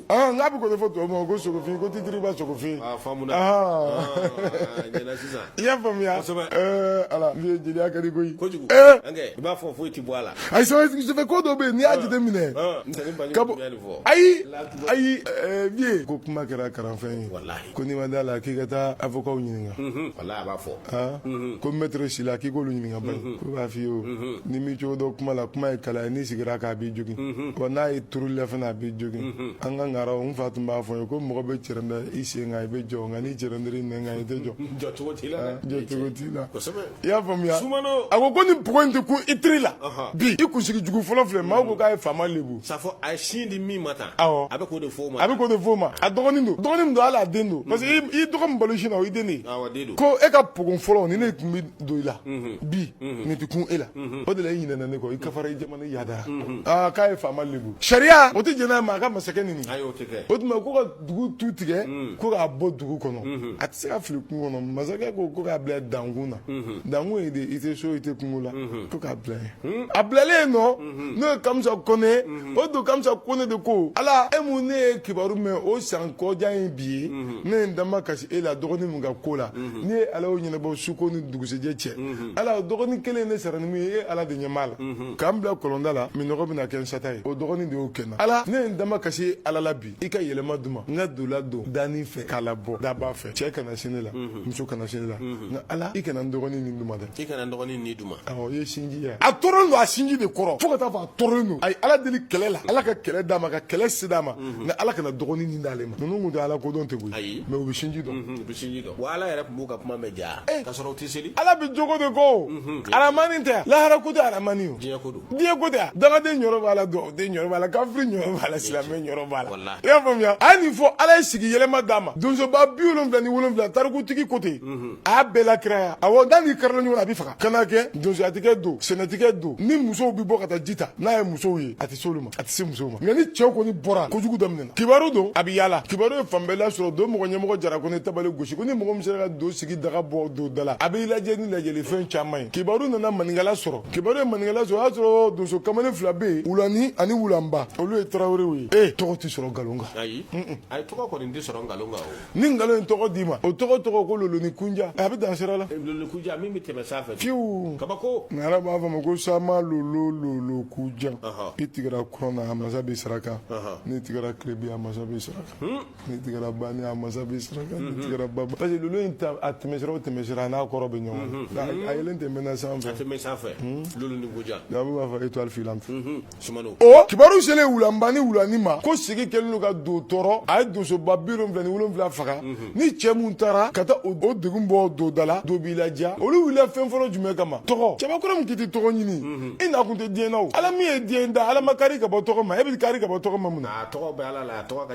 Aa n'a bɛ k'o de fɔ tɔw ma ko sogofin ko tɛ tba sogofin i y'a faamuya ala jeliya ka di koyi kojugu i b'a fɔ foyi tɛ bɔ a la a ko dɔ bɛ yen n'i y'a jateminɛ ayi ayi ko kuma kɛra kalanfɛn ye ko n'i ma da a la k'i ka taa avocat ɲininka Walahi a b'a fɔ. Aa. Unhun. Ko maitre Sila k'i k'olu ɲininka bani. Unhun. K'u b'a f'i ye o. Unhun. N'i m'i cogo dɔn kuma la, kuma ye kala ye, n'i sigira a kan a b'i jogin. Unhun. Wa n'a ye turuli la fana a b'i jogin. Unhun. An ka Ngaraw, n fa tun b'a fɔ n ye ko mɔgɔ bɛ cɛrɛndɛ i sen kan i bɛ jɔ, nka n'i cɛrɛndɛra i nɛn kan i tɛ jɔ. Jɔ cogo t'i la dɛ. Aa jɔ cogo t'i la. Kosɛbɛ. I y'a faamuya? Sumano! A ko ko nin pogo in tɛ kun i tiri la. Ɔhɔn. Bi i kunsigi jugu fɔlɔ filɛ, maaw ko k'a ye faama lebu. Safo a ye sin di min ma tan. awɔ a bɛ k'o de fɔ o ma a bɛ k'o de fɔ o ma a dɔgɔnin don dɔgɔnin don hali a den don parce que i y'i dɔgɔ min balo sin na o y'i den de ye awɔ den don ko e ka pogo fɔlɔ nin de tun bɛ don i la bi nin tɛ kun e la o de la i ɲinɛna ne kɔ i kafara i jamana i yadara aa k'a ye faama lebu sariya o tɛ jɛn n'a ye maa ka masakɛ neni ayi o tɛ kɛ o tuma ko ka dugu tu tigɛ ko k'a bɔ dugu kɔnɔ a tɛ se ka fili kungo kɔnɔ masakɛ ko ko k'a bila dankun na dankun ye de i tɛ so i tɛ kungo la ko k'a bila yen a bilalen yen nɔ mhm. n'o ye kamisa kɔnɛ mhm. o don kamisa kɔnɛ de ko ala e mun ne y'e kibaru mɛn o san kɔjan ye bi ye mhm. ne ye n damakasi e la dɔgɔnin min ka ko la ni e ala y'o ɲɛnabɔ su ko ni dugusɛjɛ cɛ ala dɔgɔnin kelen ye ne sara ni min ye e ala de ɲɛ b'a la ka n bila kɔlɔnda la minnɔgɔ bɛna kɛ n sata ye o dɔgɔnin de y'o kɛ n na ala ne ye n damakasi e ala la bi i ka yɛlɛma di n ma n ka do ladon danin fɛ k'a labɔ daba fɛ cɛ kana se ne la mhm. muso kana se ne la mhm. nka ala i kana n dɔgɔnin ni di n ma dɛ i kana n dɔgɔnin ni di n ma awɔ i ye sinji ye a tɔɔrɔlen don a sinji de kɔrɔ fo ka taa fɔ a tɔɔrɔlen don a ye ala deli kɛlɛ la ala ka kɛlɛ d'a ma ka kɛlɛ se d'a ma mhm. nka ala kana dɔgɔnin ni d'ale ma ninnu kun tɛ ala ko dɔn tɛ koyi ayi mais u bɛ sinji dɔn u bɛ sinji dɔn wa ala yɛrɛ tun b'u ka kuma mɛn ja eh. k'a sɔrɔ u tɛ seli ala bɛ jogo de ko aramani tɛ lahara ko tɛ aramani o diɲɛ ko don diɲɛ ko tɛ dangaden niyɔrɔ b'a la dubaden niyɔrɔ b'a la kafiri niyɔrɔ b'a la silamɛ niyɔrɔ b'a la i y'a faamuya a ye nin fɔ ala ye sigi yɛlɛma d'a ma donsoba bi wolonwula ni wolonwula tarikutigi ko ten mhm. a y'a bɛɛ lakiraya awɔ n'a n'i karila ɲɔgɔn na a b'i faga ka na kɛ donsoya tɛ kɛ do sɛnɛ tɛ kɛ do ni musow bɛ bɔ ka taa ji ta n'a ye musow ye a tɛ se olu ma a tɛ se musow ma nka ni cɛw kɔni bɔra kojugu daminɛna kibaru don a bɛ yaala kibaru ye fan bɛɛ lasɔrɔ do mɔgɔ ɲɛmɔgɔ jara kɔnɛ ye tabale gosi ko ni mɔgɔ min sera ka do sigi daga bɔ do da la a b'i ladiya ni ladiyalifɛn caman ye kibaru nana maninkala sɔrɔ kibaru ye maninkala sɔrɔ o y'a sɔrɔ donso kamalen fila bɛ yen wulani ani wulanba olu ye tarawelew ye ee tɔgɔ tɛ sɔrɔ nkalon kan ayi ayi tɔgɔ kɔni tɛ sɔrɔ nkalon kan o ni nkalon ye tɔgɔ d'i ma o tɔgɔ tɔgɔ ko lolonin kujan a bɛ dan sira la lolonin kujan min bɛ tɛmɛ sanfɛ fiyewu kabako ŋara b'a fɔ a ma ko sama lolo lolo kujan i tigɛra kɔrɔn na a masa b'i saraka n'i tigɛra tilebin a masa b'i saraka n'i tigɛra bani a masa b'i saraka n'i tigɛra baba parce que lolo in ta a tɛmɛsira o tɛmɛsira a n'a kɔrɔ bɛ ɲɔgɔn na nka a yeelen tɛ mɛnna sanfɛ a tɛ mɛn sanfɛ lolonin kujan nka an b'a fɔ étoile filante sumano o kibaru selen wulanba ni wulani ma ko sigi kɛlen don ka do tɔɔrɔ a ye donsoba bi wolonwula ni wolonwula faga ni cɛ min taara ka taa o o degun bɔ do da la do b'i ladiya olu wulila fɛn fɔlɔ jumɛn kama tɔgɔ cɛbakɔrɔ min k'i tɛ tɔgɔ ɲini i nakun tɛ diɲɛ na o ala min ye diɲɛ da ala ma kari ka bɔ tɔgɔ ma e bɛ kari ka bɔ tɔgɔ ma mun na a tɔgɔ bɛ ala la a tɔgɔ ka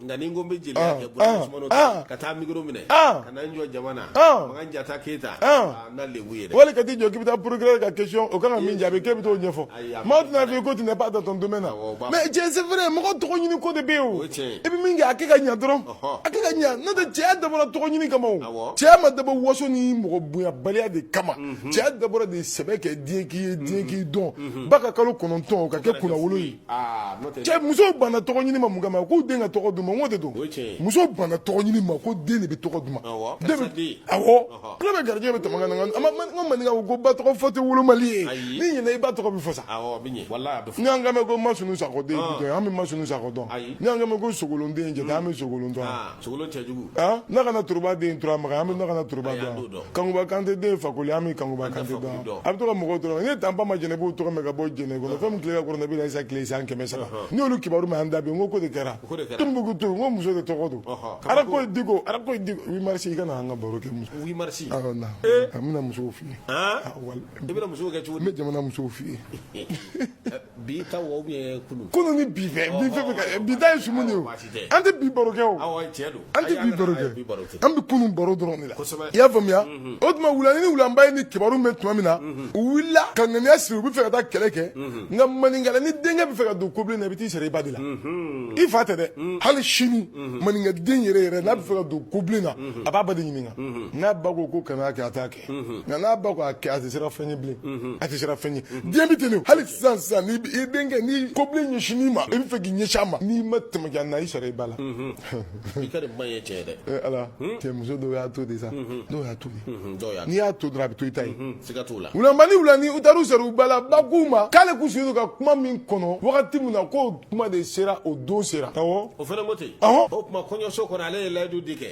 Nka ni n ko n bɛ jeliya kɛ ka taa mikoro minɛ ka jɔ jama na jata keyita wali ka jɔ k'i bɛ taa procureur ka question o kan ka min jaabi k'e bɛ t'o ɲɛfɔ maa tɛna f'i ye ko tu n'es pas dans ton domaine na mais c'est vrai mɔgɔ tɔgɔ ɲini ko de bɛ yen i bɛ min kɛ a kɛ ka ɲɛ dɔrɔn a kɛ ka ɲɛ n'o tɛ cɛya dabɔra tɔgɔ ɲini kama cɛya ma dabɔ waso ni mɔgɔ bonyabaliya de kama cɛya dabɔra de sɛbɛ kɛ diɲɛ k'i ye diɲɛ k'i dɔn ba ka kalo kɔnɔntɔn ka kɛ kunnawolo ye Ah, cɛ musow banna tɔgɔ ɲini ma mun kama k'u den ka tɔgɔ d'u ma n ko de don musow banna tɔgɔ ɲini ma ko den de bɛ tɔgɔ d'u ma awɔ kula bɛ garijɛgɛ bɛ tɛmɛ ka na n ka maninka ko ba tɔgɔ fɔ tɛ wolomali ye n'i ɲɛna i ba tɔgɔ bɛ fɔ sa n'i y'an kan mɛn ko masunu sakɔ den an bɛ masunu sakɔ dɔn n'i y'an kan mɛn ko sogolon den jata an bɛ sogolon dɔn ah. Sogolon cɛjugu. Aa nakana turuba den turamakan an bɛ nakana turuba Ayi, an t'o dɔn dɔn. kankuba kante den fakoli an bɛ kankuba An tɛ kante Fakoli dɔn dɔn. a bɛ to ka mɔgɔw tɔɔrɔ n ye tapama jɛnɛpo tɔgɔ mɛn ka bɔ jɛnɛ kɔnɔ fɛn min tile ka kɔrɔ nabi isa tile san kɛmɛ saba ne y'olu kibaru mɛn an da bi n ko ko de kɛra ko de kɛra. tumbutu n ko muso de tɔgɔ don Ɔhɔ. ara ko diko ara ko diko huit mars i kana an ka baro kɛ muso huit mars awɔ na a bɛna musow f'i ye Aa, Ah, wal- i bɛna musow kɛ cogo di n bɛ jamana musow f'i ye bi ta wo ye kunu kunu ni bi fɛ bi fɛ ka bi ta ye sumu de o an tɛ bi baro kɛ o an tɛ bi baro kɛ an bɛ kunu baro dɔrɔn de la i y'a faamuya mhm. o tuma wulani ni wulanba ye nin kibaru mɛn tuma min na mhm. u wulila ka ŋaniya siri u bɛ fɛ ka taa kɛlɛ kɛ mhm. nka maninkala ni denkɛ bɛ fɛ ka don kobilen na i bɛ t'i sara i ba de la i fa tɛ dɛ hali sini maninka den yɛrɛ yɛrɛ n'a bɛ fɛ ka don kobilen na a b'a ba de ɲininka n'a ba ko ko kana kɛ a t'a kɛ nka n'a ba ko a kɛ a tɛ siran fɛn ɲɛ bilen a tɛ siran fɛn ɲɛ diɲɛ bɛ ten hali sisan sisan ni i denkɛ ni kobilen ɲɛsin i ma i bɛ fɛ k'i ɲɛsin a ma n'i ma tɛmɛ na i sara i ba la i ka ba ye cɛ dɛ ala cɛ muso dɔw y'a to de sa dɔw y'a to n'i y'a to dɔrɔn a bɛ to i ta ye wulanba ni wulani u taara u sara u ba la ba k'u ma k'ale k'u sigi ka kuma min kɔnɔ wagati min na k'o kuma de sera o don sera o fana ko ten o tuma kɔɲɔso kɔnɔ ale ye layidu de kɛ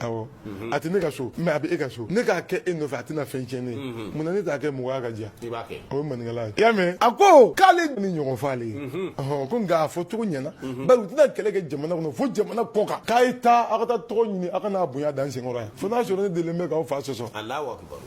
Awɔ, unhun, a tɛ ne ka so mais a bɛ e ka so, ne k'a kɛ e nɔfɛ a tɛna fɛn tiɲɛ ne ye, unhun, mun na ne t'a kɛ mɔgɔya ka diya, i b'a kɛ, o ye maninkala ye, i y'a mɛn, a ko k'ale nin ɲɔgɔn fɔ ale ye, unhun, ɔhɔ, ko nka a fɔ cogo ɲɛna, unhun, bari u tɛna kɛlɛ kɛ jamana kɔnɔ fo jamana kɔ kan, k'a ye taa aw ka taa tɔgɔ ɲini aw ka n'a bonya da n senkɔrɔ yan, fo n'a sɔrɔ ne delilen bɛ k'aw fa sɔsɔ, Alahu akibaru.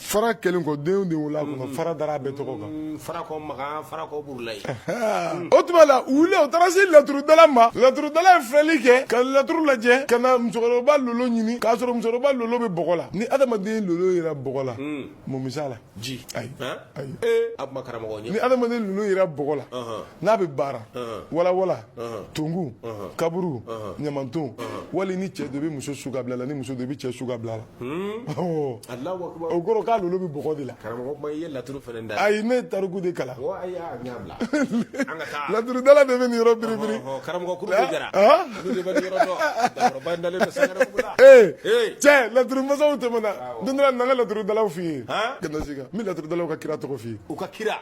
fara kɛlen kɔ denw de wolola a kɔnɔ mm-hmm. fara dara a bɛɛ tɔgɔ kan mm-hmm. farakɔ makan farakɔ burulayi o tuma la u wuli u taara se laturudala ma laturudala ye filɛli kɛ ka laturu lajɛ ka na musokɔrɔba lolo ɲini k'a sɔrɔ musokɔrɔba lolo bɛ bɔgɔ la ni adamaden lolo yera bɔgɔ la mm. mun bɛ s'a la ji ayi ayi ee a kuma karamɔgɔ ɲɛ ni adamaden lolo yera bɔgɔ la n'a bɛ baara walawala tungu kaburu ɲamanton wali ni cɛ dɔ bɛ muso su ka bila la ni muso dɔ bɛ cɛ su ka bila la o kɔrɔ k'a lolo bɛ bɔgɔ de la ayi ne tariku de kalan laturudala de bɛ nin yɔrɔ biribiri cɛ laturumasaw tɛmɛna don na n ka laturudala f'i ye n bɛ laturudala ka kira tɔgɔ f'i ye u ka kira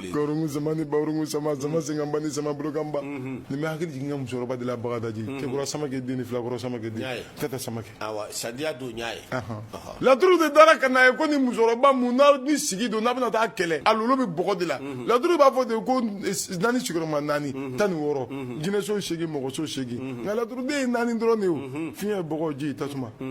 Gaurungu sama ni baurungu sama sama mm. senkanba ni sama bolokanba mm-hmm. nin bɛ hakili jigin n ka musokɔrɔba de la bagadaji mm-hmm. cɛkura samakɛ den ni filakɔrɔ samakɛ den tɛtɛ samakɛ awa sadiya don n y'a ye laturu de dara ka n'a ye ko ni musokɔrɔba mun n'a ni sigi don n'a bɛna taa kɛlɛ a lolo bɛ bɔgɔ de la mm-hmm. laturu b'a fɔ ten ko naani sigiyɔrɔma naani tan ni wɔɔrɔ jinɛso seegin mɔgɔso seegin nka laturuden ye naani dɔrɔn de ye o fiɲɛ bɔgɔ ji tasuma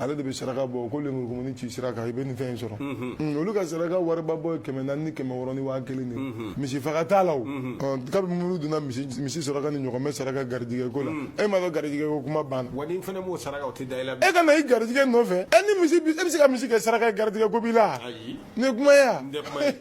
ale de bɛ saraka bɔ ko lemurukumuni ci sira kan i bɛ nin fɛn in sɔrɔ olu ka saraka wariba bɔ ye kɛmɛ naani ni kɛmɛ wɔɔrɔ ni waa kelen de misi faga t'a la kabini minnu donna misi saraka ni ɲɔgɔmɛ saraka garijɛgɛ ko la e m'a dɔn garijɛgɛ ko kuma banna wa ni fana b'o saraka tɛ da e ka na i garijɛgɛ nɔfɛ e ni misi e bɛ se ka misi kɛ saraka garijɛgɛ ko b'i la Nin ye kuma ye wa n tɛ kuma ye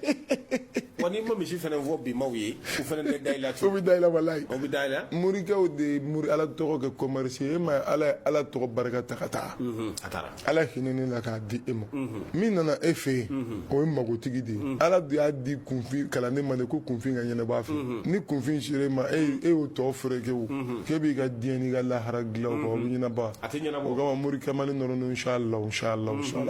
wa n'i ma misi fana fɔ bimaw ye u fana bɛ da la bɛ da la walayi u bɛ da la morikɛ de ye mori ala tɔgɔ kɛ commerce ye e ma ala ye ala tɔgɔ barika ta ka taa a taara ala hinɛna i la k'a di e ma min nana e fɛ yen o ye magotigi de ye ala de y'a di kunfin kalanden ma de ko kunfin ka ɲɛnabɔ a fɛ ni kunfin sera e ma e e y'o tɔ fereke o k'e b'i ka diɲɛ n'i ka lahara dilan bɛ ɲɛnabɔ a tɛ ɲɛnabɔ morikɛ mali nɔrɔ inshallah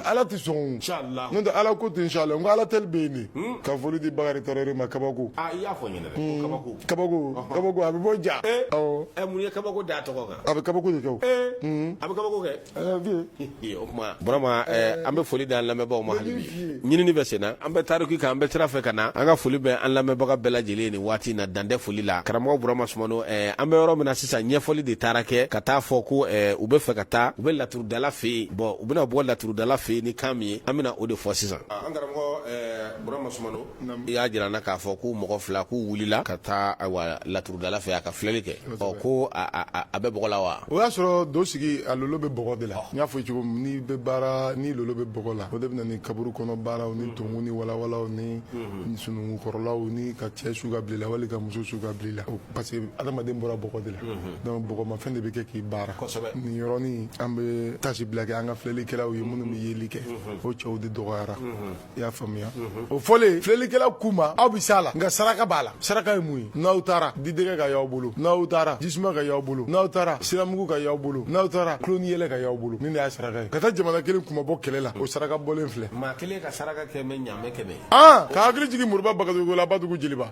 ala tɛ sɔn n'o tɛ ala ko ten inshallah n ko ala tɛ bɛ yen nin ka foli di bakarijan tarawele ma kabako a bɛ bɔ ja mun ye kabako da tɔgɔ kan a bɛ kabako de kɛ a bɛ kabako kɛ o tuma burama an bɛ foli da an lamɛnbagaw ma ɲinini bɛ sen na an bɛ tariku kan an bɛ sira fɛ ka na an ka foli bɛ an lamɛnbaga bɛɛ lajɛlen nin waati na dantɛ foli la karamɔgɔ burama sumano an bɛ yɔrɔ min na sisan ɲɛfɔli de taara kɛ ka taa fɔ ko u bɛ fɛ ka taa u bɛ laturu dala fɛ yen bɔn u bɛna bɔ laturudala fɛ yen ni kan min ye an bɛna o de fɔ sisan an karamɔgɔ burama sumano i y'a jira an na k'a fɔ ko mɔgɔ fila k'u wulila ka taa laturudala fɛ a ka filɛli kɛ ɔ ko a bɛ bɔgɔ la wa o y'a sɔrɔ do sigi a lolo bɛ bɔgɔ de la n y'a fɔ cogo min n'i bɛ baara ni lolo bɛ bɔgɔ la o de bɛ na ni kaburu kɔnɔ baaraw ni tungu ni walawalaw ni sunungukɔrɔlaw ni ka cɛ su ka bila wali ka muso su ka bila la parce que adamaden bɔra bɔgɔ de la donc bɔgɔma fɛn de bɛ kɛ k'i baara nin yɔrɔnin an bɛ taasibila kɛ an ka filɛlikɛlaw ye minnu bɛ yeli kɛ o cɛw de dɔgɔyara i y'a faamuya o fɔlen filɛlikɛla k'u ma aw bɛ s'a la nka saraka b'a la saraka ye mun ye n'aw taara didɛgɛ ka y'aw bolo n'aw taara jisuma ka y'aw bolo n'aw taara siramugu ka y'aw bolo n'aw taara kolonin yɛlɛ ka y'aw bolo nin de y'a saraka ye ka taa jamana kelen kunmabɔ kɛlɛ la o saraka bɔlen filɛ maa kelen ka saraka kɛ mɛ ɲaamɛ kɛmɛ Aa ka hakili jigin moriba bagayogo la badugu jeliba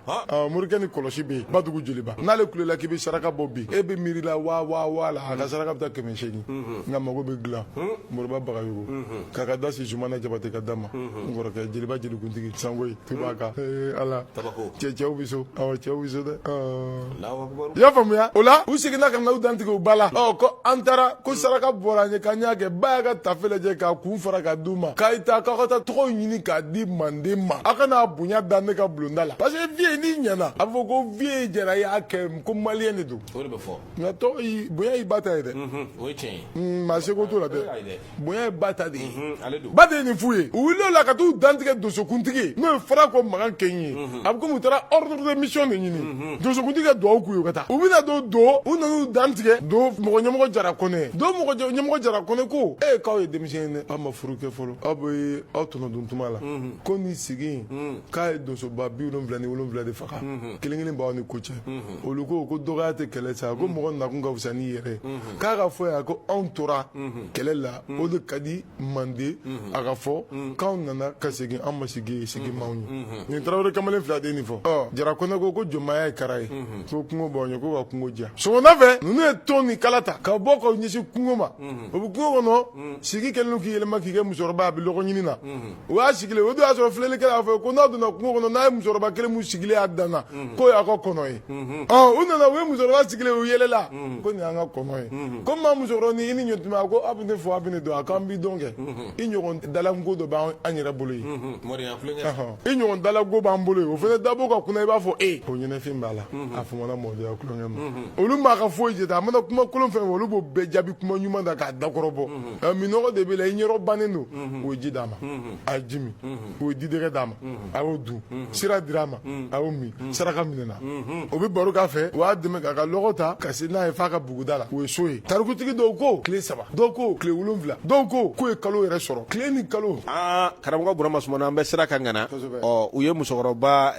morikɛ ni kɔlɔsi bɛ yen badugu jeliba n'ale kulela k'i bɛ saraka bɔ bi e bɛ miiri la waa waa waa la a ka saraka bɛ taa kɛmɛ seegin nka mago bɛ dilan moriba bagayogo k'a ka da si zumana jabate ka da ma n kɔrɔkɛ jeliba jelikuntigi sangoyi tubaka ee ala cɛw bɛ so cɛw bɛ so dɛ I y'a faamuya o la u seginna ka n'u dantigɛ u ba la ko an taara ko saraka bɔra an ye k'an y'a kɛ ba y'a ka tafe lajɛ k'a kun fara k'a d'u ma k'a ta k'aw ka taa tɔgɔ ɲini k'a di manden ma aw ka na bonya da ne ka bulonda la parce que viye n'i ɲana a bɛ fɔ ko viye jɛra y'a kɛ ko maliyɛn de don nka bonya y'i ba ta ye dɛ maa seko t'o la dɛ bonya ye ba ta de ye ba de ye nin f'u ye u wulila o la ka t'u dantigɛ donsokuntigi n'o ye farako makan keɲi ye a bɛ komi u taara ordre de mission de ɲini donsokuntigi ka duwawu k'u ye u ka taa u bɛna don do u nan'u dantigɛ do mɔgɔ ɲɛmɔgɔ jara kɔnɛ do mɔgɔ jɛ- ɲɛmɔgɔ jara kɔnɛ ko e k'aw ye denmisɛn ye dɛ aw ma furu kɛ fɔlɔ aw bɛ aw tɔnɔ dun tuma la ko nin sigi in k'a ye donsoba bi wolonwula ni wolonwula de faga kelen kelen b'aw ni ko cɛ olu ko ko dɔgɔya tɛ kɛlɛ sa ko mɔgɔ nakun ka fisa n'i yɛrɛ ye k'a ka fɔ yan ko anw tora kɛlɛ la o de ka di mande a ka fɔ k'anw nana ka segin an ma sigi ye sigi m'anw ye nin tarawele kamalen fila de nin fɔ jara kɔnɛ ko ko jɔnmaya ye kara ye ko kungo b'aw ɲɛ ko ka kungo diya sɔgɔmada fɛ ninnu ye ton ni kala ta ka bɔ k'u ɲɛsin kungo ma o bɛ kungo kɔnɔ sigi kɛlen k'i yɛlɛma k'i kɛ musokɔrɔba a bɛ lɔgɔ ɲini na o y'a sigilen o don y'a sɔrɔ filɛlikɛla y'a fɔ ko n'a donna kungo kɔnɔ n'a ye musokɔrɔba kelen min sigilen y'a dan na k'o y'a ka kɔnɔ ye u nana u ye musokɔrɔba sigilen u yɛlɛla ko nin y'an ka kɔnɔ ye ko maa musokɔrɔba ni i ni ɲɔtuma a ko aw bɛ ne fɔ aw bɛ ne dɔn a k'an b'i dɔn kɛ i ɲɔgɔn dalanko dɔ b'an yɛrɛ bolo yen i ɲɔgɔn dalanko b'an bolo yen o fana dabo ka kunna i b'a fɔ e ko ɲɛnafin b'a la a fɔra mɔdenya tulonkɛ ma olu m'a ka foyi jate a mana kuma kolon fɔ olu b'o bɛɛ jaabi kuma ɲuman na k'a dakɔrɔbɔ nka minnɔgɔ de b'a la i ɲɛrɔ bannen don o ye ji d'a ma a ye ji min o ye didɛgɛ d'a ma a y'o dun sira dir'a ma a y'o min saraka minɛna o bɛ baro k'a fɛ o y'a dɛmɛ k'a ka lɔgɔ ta ka se n'a ye f'a ka buguda la o ye so ye tarikutigi dɔw ko tile saba dɔw ko tile wolonfila dɔw ko k'u ye kalo yɛrɛ sɔrɔ tile ni kalo aa karamɔgɔ burama sumano an bɛ sira kan ŋana ɔ u ye musokɔrɔba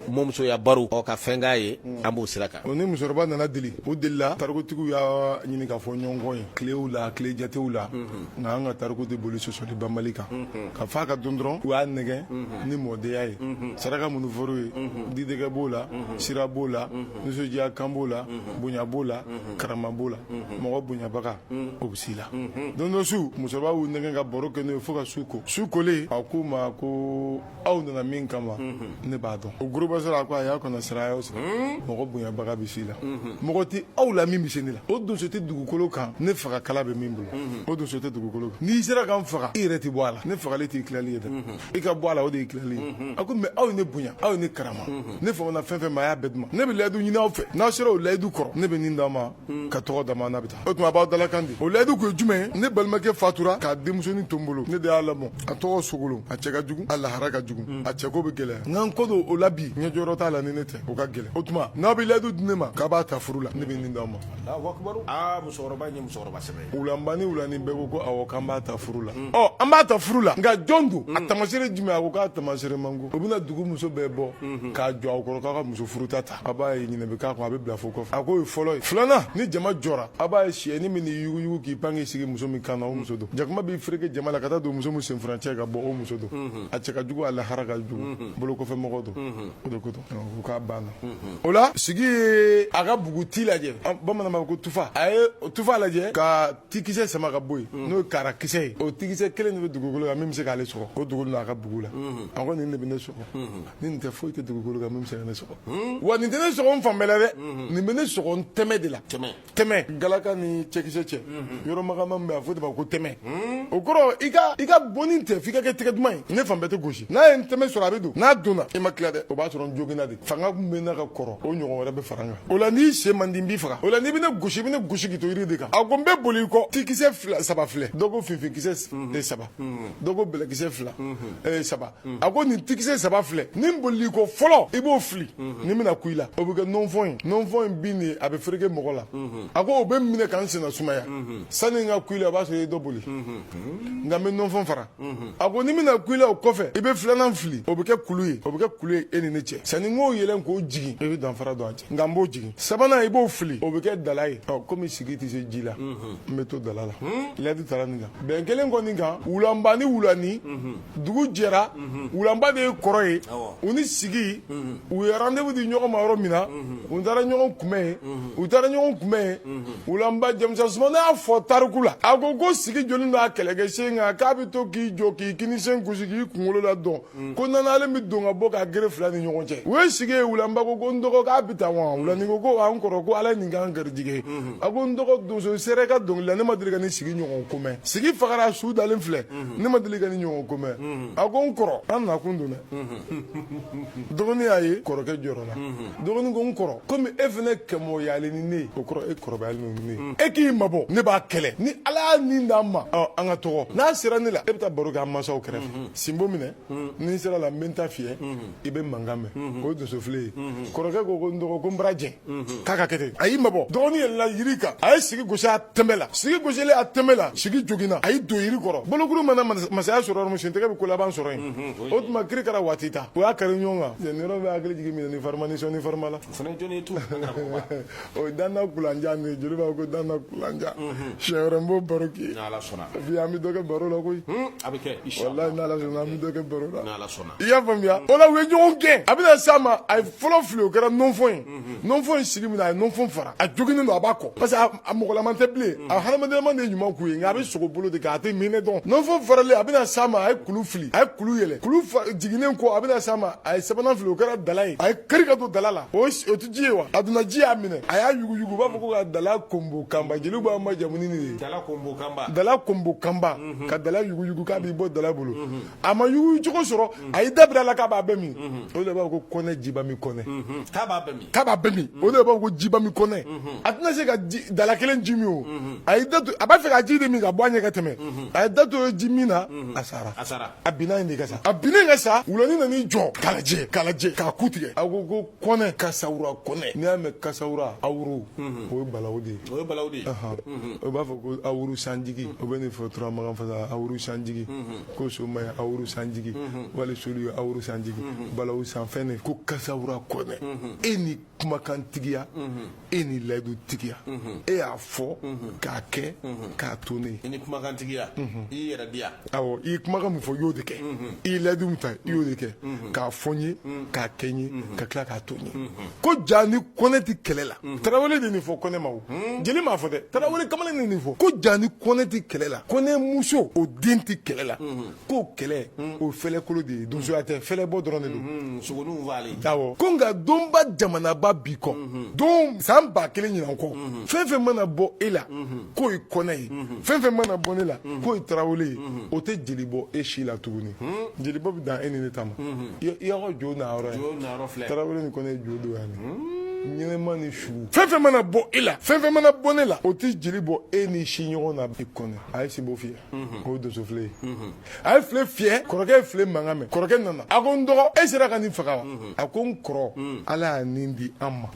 mɔmusoya baro ɔ ka fɛn k'a ye an b'o sira kan O ni musokɔrɔba nana deli o delila tarikutigiw y'a ɲini ka fɔɲɔgɔnkɔ ye tilew la tile jatew la nka an ka tariku tɛ boli sɔsɔli banbali kan ka fa ka don dɔrɔn u y'a nɛgɛ ni mɔdenya ye saraka minnu fɔr'u ye didɛgɛ b'o la sira b'o la nisɔndiya kan b'o la bonya b'o la karama b'o la mɔgɔ bonyabaga o bɛ s'i la don dɔ su musokɔrɔba y'u nɛgɛ ka baro kɛ n'o ye fo ka su ko su kolen a k'u ma ko aw nana min kama ne b'a dɔn o gba sɔrɔ a ko a y'a kɔnɔ sira sɔrɔ mɔgɔ bonyabaga bɛ s'i la mɔgɔ tɛ aw la min bɛ se ne la o donso tɛ dugukolo kan ne faga kala bɛ min bolo o donso tɛ dugukolo kan n'i sera ka n faga i yɛrɛ tɛ bɔ a la ne fagali t'i tilali ye dɛ i ka bɔ a la o de y'i tilali ye a ko mɛ aw ye ne bonya aw ye ne karama ne fanana fɛn fɛn ma a y'a bɛɛ duman ne bɛ layidu ɲini aw fɛ n'aw sera o layidu kɔrɔ ne bɛ nin d'a ma Hmm. ka tɔgɔ d'a ma n'a bɛ taa o tuma a b'aw dalakan di o layidu kun ye jumɛn ye ne balimakɛ fatura k'a denmusonin to n bolo ne de y'a lamɔ a tɔgɔ sogolon a cɛ ka jugu a lahara ka jugu hmm. a cɛko bɛ gɛlɛya nka n ko don o la bi ɲɛjɔyɔrɔ t'a la ni ne tɛ o ka gɛlɛn o tuma n'aw bɛ layidu di ne ma k'a b'a ta furu la ne bɛ nin d'aw ma aa musokɔrɔba in ye musokɔrɔba sɛbɛ ye wulanba ni wulani bɛɛ ko ko awɔ k'an b'a ta furu la hmm. ɔ an b'a ta furu la nka jɔn don a tamasere jumɛn a ko k'a tamasere man go o bɛna dugu muso bɛɛ bɔ k'a jɔ aw kɔrɔ k'a ka muso furuta ta a b'a ye ɲinɛ bɛ k'a kɔ a bɛ bila fo kɔfɛ a k'o ye fɔlɔ ye filanan ni jama jɔra a b'a ye siyɛnin man'i yuguyugu k'i pan k'i sigi muso min kan na o muso don jakuma b'i fereke jama la ka taa don muso min senfurancɛ ka bɔ o muso don a cɛ ka jugu a lahara ka jugu bolokɔfɛmɔgɔ don o de ko don ko k'a banna o la sigi ye a ka buguti lajɛ bamanan ma ko tufa a ye tufa lajɛ ka tikisɛ sama ka bɔ yen mm. n'o ye kara kisɛ ye o tikisɛ kelen de bɛ dugukolo kan min bɛ se k'ale sɔgɔ o dugu n'a ka bugu la mm-hmm. a ko nin de bɛ ne sɔgɔ mm-hmm. ni nin tɛ foyi tɛ dugukolo kan min bɛ se ka ne sɔgɔ mm-hmm. wa nin tɛ ne sɔgɔ n fan bɛɛ la dɛ nin bɛ ne sɔgɔ n tɛmɛ de la tɛmɛ galaka ni cɛkisɛ cɛ yɔrɔ magaman min bɛ a fɔ de ma ko tɛmɛ o kɔrɔ i ka i ka bonni tɛ f'i ka kɛ tɛgɛ duman ye ne fan bɛɛ tɛ gosi n'a ye n tɛmɛ sɔrɔ a bɛ don n'a donna i ma tila dɛ o b'a sɔrɔ n joginna de fanga kun bɛ n na ka kɔrɔ o ɲɔgɔn wɛrɛ bɛ fara n kan o la n'i sen man di n b'i faga o la n'i bɛ ne gosi i bɛ ne gosi k'i to yiri de kan a ko n bɛ boli i kɔ tikisɛ saba filɛ dɔ ko finfinkisɛ saba dɔ ko bɛlɛkisɛ fila saba a ko nin tikisɛ saba filɛ ni n bolila i kɔ fɔlɔ i b'o fili ni n bɛna ku i la o bɛ kɛ nɔnfɔn ye nɔnfɔn in bin de a bɛ fereke mɔgɔ la a ko o bɛ n minɛ ka n senna sumaya sani n ka ku i la o b'a sɔrɔ i ye dɔ boli nka n bɛ nɔnfɔn fara a ko ni n bɛna ku i la o kɔfɛ i bɛ filanan fili o bɛ kɛ kulu ye o bɛ kɛ kulu ye e ni ne cɛ sanni n k'o yɛlɛn k'o jigin i bɛ danfara don an cɛ nka n b'o jigin sabanan i b'o fili o bɛ kɛ dala ye ɔ komi sigi tɛ se ji la n bɛ to dala la layidu tara nin kan bɛn kɛlen ko nin kan wulanba ni wulani dugu jɛra wulanba de ye kɔrɔ ye u ni sigi u ye rendez-vous di ɲɔgɔn ma yɔrɔ min na u taara ɲɔgɔn kunbɛn yen u taara ɲɔgɔn kunbɛn yen wulanba jɛmusa sumano y'a fɔ tariku la a ko ko sigi jɔlen don a kɛlɛkɛ sen kan k'a bɛ to k'i jɔ k'i kinisen gosi k'i kunkolo ladɔn mm. ko nanalen bɛ don ka bɔ ka gere fila ni ɲɔgɔn cɛ u ye sigi ye wulanba ko ko n dɔgɔ k'an bɛ taa wa wulani ko ko an kɔrɔ ko ala ye nin k'an garijigɛ ye mm-hmm. a ko n dɔgɔ donso sɛrɛ ka dɔnkili la ne ma deli ka nin sigi ɲɔgɔn ko mɛn sigi fagara su dalen filɛ mm-hmm. ne ma deli ka nin ɲɔgɔn ko mɛn mm-hmm. a ko n kɔrɔ an nakun don dɛ dɔgɔnin y'a ye kɔrɔkɛ jɔrɔla dɔgɔnin ko n kɔrɔ komi e fana kɛmɔgɔyalen ni ne ye o kɔrɔ e kɔrɔbayalen ni ne ye mm. e k'i mabɔ ne b'a kɛlɛ ni ala y'a nin d'an ma an ka tɔgɔ n'a sera ne la e bɛ taa baro kɛ an masaw kɛrɛfɛ mm-hmm. sinbo minɛ mm-hmm. ni n sera a la n bɛ n ta fiyɛ mm-hmm. i bɛ mankan mɛn o ye donsofile ye kɔrɔkɛ ko ko n dɔgɔ ko n bara jɛn k'a ka kɛ ten a y'i mabɔ dɔgɔnin yɛlɛnna yiri kan a ye sigi gosi a tɛmɛ la sigi gosilen a tɛmɛ la sigi joginna a y'i don yiri kɔrɔ bolokuru mana masaya sɔrɔ yɔrɔ min sentɛgɛ bɛ ko laban sɔrɔ yen o tuma kirikara watita u y'a kari ɲɔgɔn kan nin yɔrɔ bɛ hakili jigin minannin farima ni sɔnnin farima la o fana jɔni ye tu o ye danna kulanjan de ye jeli b'a ko danna kulanjan siɲɛ wɛrɛ n b'o baro k'i ye n'ala sɔnna bi an bɛ dɔ kɛ baro la koyi a bɛ kɛ walayi n'ala sɔnna an bɛ dɔ kɛ baro la n'ala sɔnna i y'a faamuya o la u ye ɲɔgɔn gɛn a bɛna s'a ma a ye fɔlɔ fili o kɛra nɔnfɔn ye nɔnfɔn ye sigi minɛ a ye nɔnfɔn fara a joginnen don a b'a kɔ parce que a mɔgɔlama tɛ bilen a hadamadenlama de ɲuman tun ye nka a bɛ sogo bolo de kan a tɛ minɛ dɔn nɔnfɔn faralen a bɛna s'a ma a ye kulu fili a ye kulu yɛlɛ kulu jiginnen kɔ a bɛna s'a ma a ye sabanan fili o kɛra dala ye a y'i kari ka don dala la o tɛ ji ye wa a donna ji y'a minɛ a y'a yuguyugu u b'a fɔ ko ka dala konbo kanba jeliw b'a majamu ni nin ye dala konbo kanba ka dala yuguyugu k'a b'i bɔ dala bolo a ma yugu cogo sɔrɔ a y'i da biri a la k'a b'a bɛɛ min o de b'a fɔ ko kɔnɛ jiba min kɔnɛ k'a b'a bɛɛ min o de b'a fɔ ko jiba min kɔnɛ a tɛna se ka dala kelen ji min o a a b'a fɛ ka ji de min ka bɔ a ɲɛ ka tɛmɛ a y'i da to ji min na a sara a sara a binna yen de ka sa a binnen ka sa wulani nan'i jɔ k'a lajɛ k'a lajɛ k'a ku tigɛ a ko ko kɔnɛ kasawura kɔnɛ n'i y'a mɛn kasawura awuru o ye balawu de ye o ye balawu de ye o b'a fɔ ko awuru sanjigi o bɛ nin fɔ turamagan fasa awuru sanjigi ko soma ye awuru sanjigi mhm. wali solu ye awuru sanjigi mhm. balawu sanfɛn ne ko kasawura kɔnɛ mhm. e ni kumakantigiya e ni layidutigiya e y'a fɔ k'a kɛ k'a to ne i ni kumakantigiya i yɛrɛ diya awɔ i ye kumakan min fɔ i y'o de kɛ i ye layidu min ta i y'o de kɛ k'a fɔ n ye k'a kɛ n ye ka tila k'a to n ye ko ja ni kɔnɛ tɛ kɛlɛ la tarawele de nin fɔ kɔnɛ ma jeli m'a fɔ dɛ tarawele kamalen de nin fɔ ko ja ni kɔnɛ tɛ kɛlɛ la kɔnɛ muso o den tɛ kɛlɛ la k'o kɛlɛ o fɛlɛkolo de ye donsoya tɛ fɛlɛbɔ dɔrɔn de don sogoninw b'ale awɔ ko nka donba jamanaba bi kɔ don san ba kelen ɲinan kɔ fɛn fɛn mana bɔ e la k'o ye kɔnɛ ye fɛn fɛn mana bɔ ne la k'o ye tarawele ye o tɛ jeli bɔ e si la tuguni jeli bɔ bɛ dan e ni ne ta ma Yɔrɔ jo na yɔrɔ jo na yɔrɔ filɛ tarawele ni kɔnɛ ye jo don yan ɲɛnɛma ni su fɛn fɛn mana bɔ e la fɛn fɛn mana bɔ ne la o tɛ jeli bɔ e ni si ɲɔgɔn na bi kɔnɔ a ye sinbo fiyɛ o ye donso file ye a ye file fiyɛ kɔrɔkɛ ye file mankan mɛn kɔrɔkɛ nana a ko n dɔgɔ e sera ka nin faga wa a ko n kɔrɔ ala y'a nin di an ma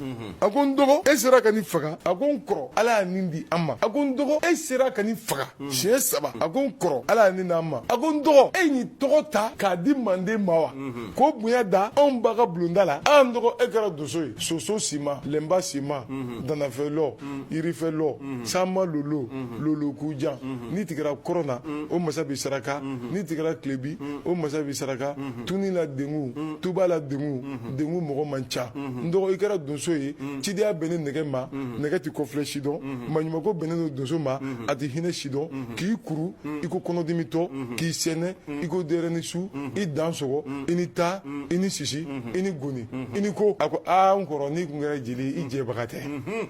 a ko n dɔgɔ e sera ka nin faga a ko n kɔrɔ ala y'a nin di an ma a ko n dɔgɔ e sera ka nin faga Hmm. siɲɛ saba a ko n kɔrɔ ala y'a nin di an ma a ko n dɔgɔ e ye nin tɔgɔ ta k'a di manden ma wa hmm. k'o bonya da anw ba ka bulonda la aa n dɔgɔ e kɛra donso ye soso sima lɛnba sima hmm. danafɛlɔ yirifɛlɔ sanma lolo lolokujan n'i tigɛra kɔrɔn na o masa b'i saraka n'i tigɛra kilebi o masa b'i saraka tuni la dengu tuba la dengu dengu mɔgɔ man ca n dɔgɔ i kɛra donso ye cidenya bɛnnen nɛgɛ ma nɛgɛ ti kɔfilɛ si dɔn maɲumanko bɛnnen don donso ma a tɛ hinɛ si dɔn k'i kuru i ko kɔnɔdimitɔ k'i sɛnɛ i ko denyɛrɛni su i dansɔgɔ i ni ta i ni sisi i ni goni i ni ko a ko aa n kɔrɔ n'i kun kɛra jeli i jɛbaga tɛ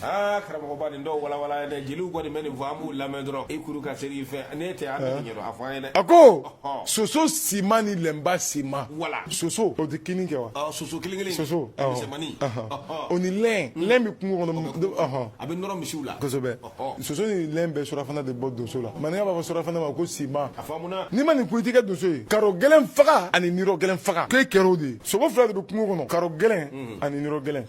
aa karamɔgɔba nin dɔw walawala dɛ jeliw kɔni bɛ nin fɔ an b'u lamɛn dɔrɔn i kuru ka seri i fɛ ne tɛ an t'a ɲɛdɔn a fɔ an ye dɛ a ko soso sima ni lɛnba sima soso o tɛ kinni kɛ wa soso kelen kelen soso misɛnmani o ni lɛn lɛn bɛ kungo kɔnɔ a bɛ nɔrɔ misiw la kosɛbɛ soso ni lɛn bɛ surafana de bɔ donso la maninka b'a fɔ surafana ma ko sima n'i ma nin kun i tɛ kɛ donso ye karo gɛlɛn faga ani nirɔ gɛlɛn faga k'e kɛra o de ye sogo fila de bɛ kungo kɔnɔ karo gɛlɛn ani nirɔ gɛlɛn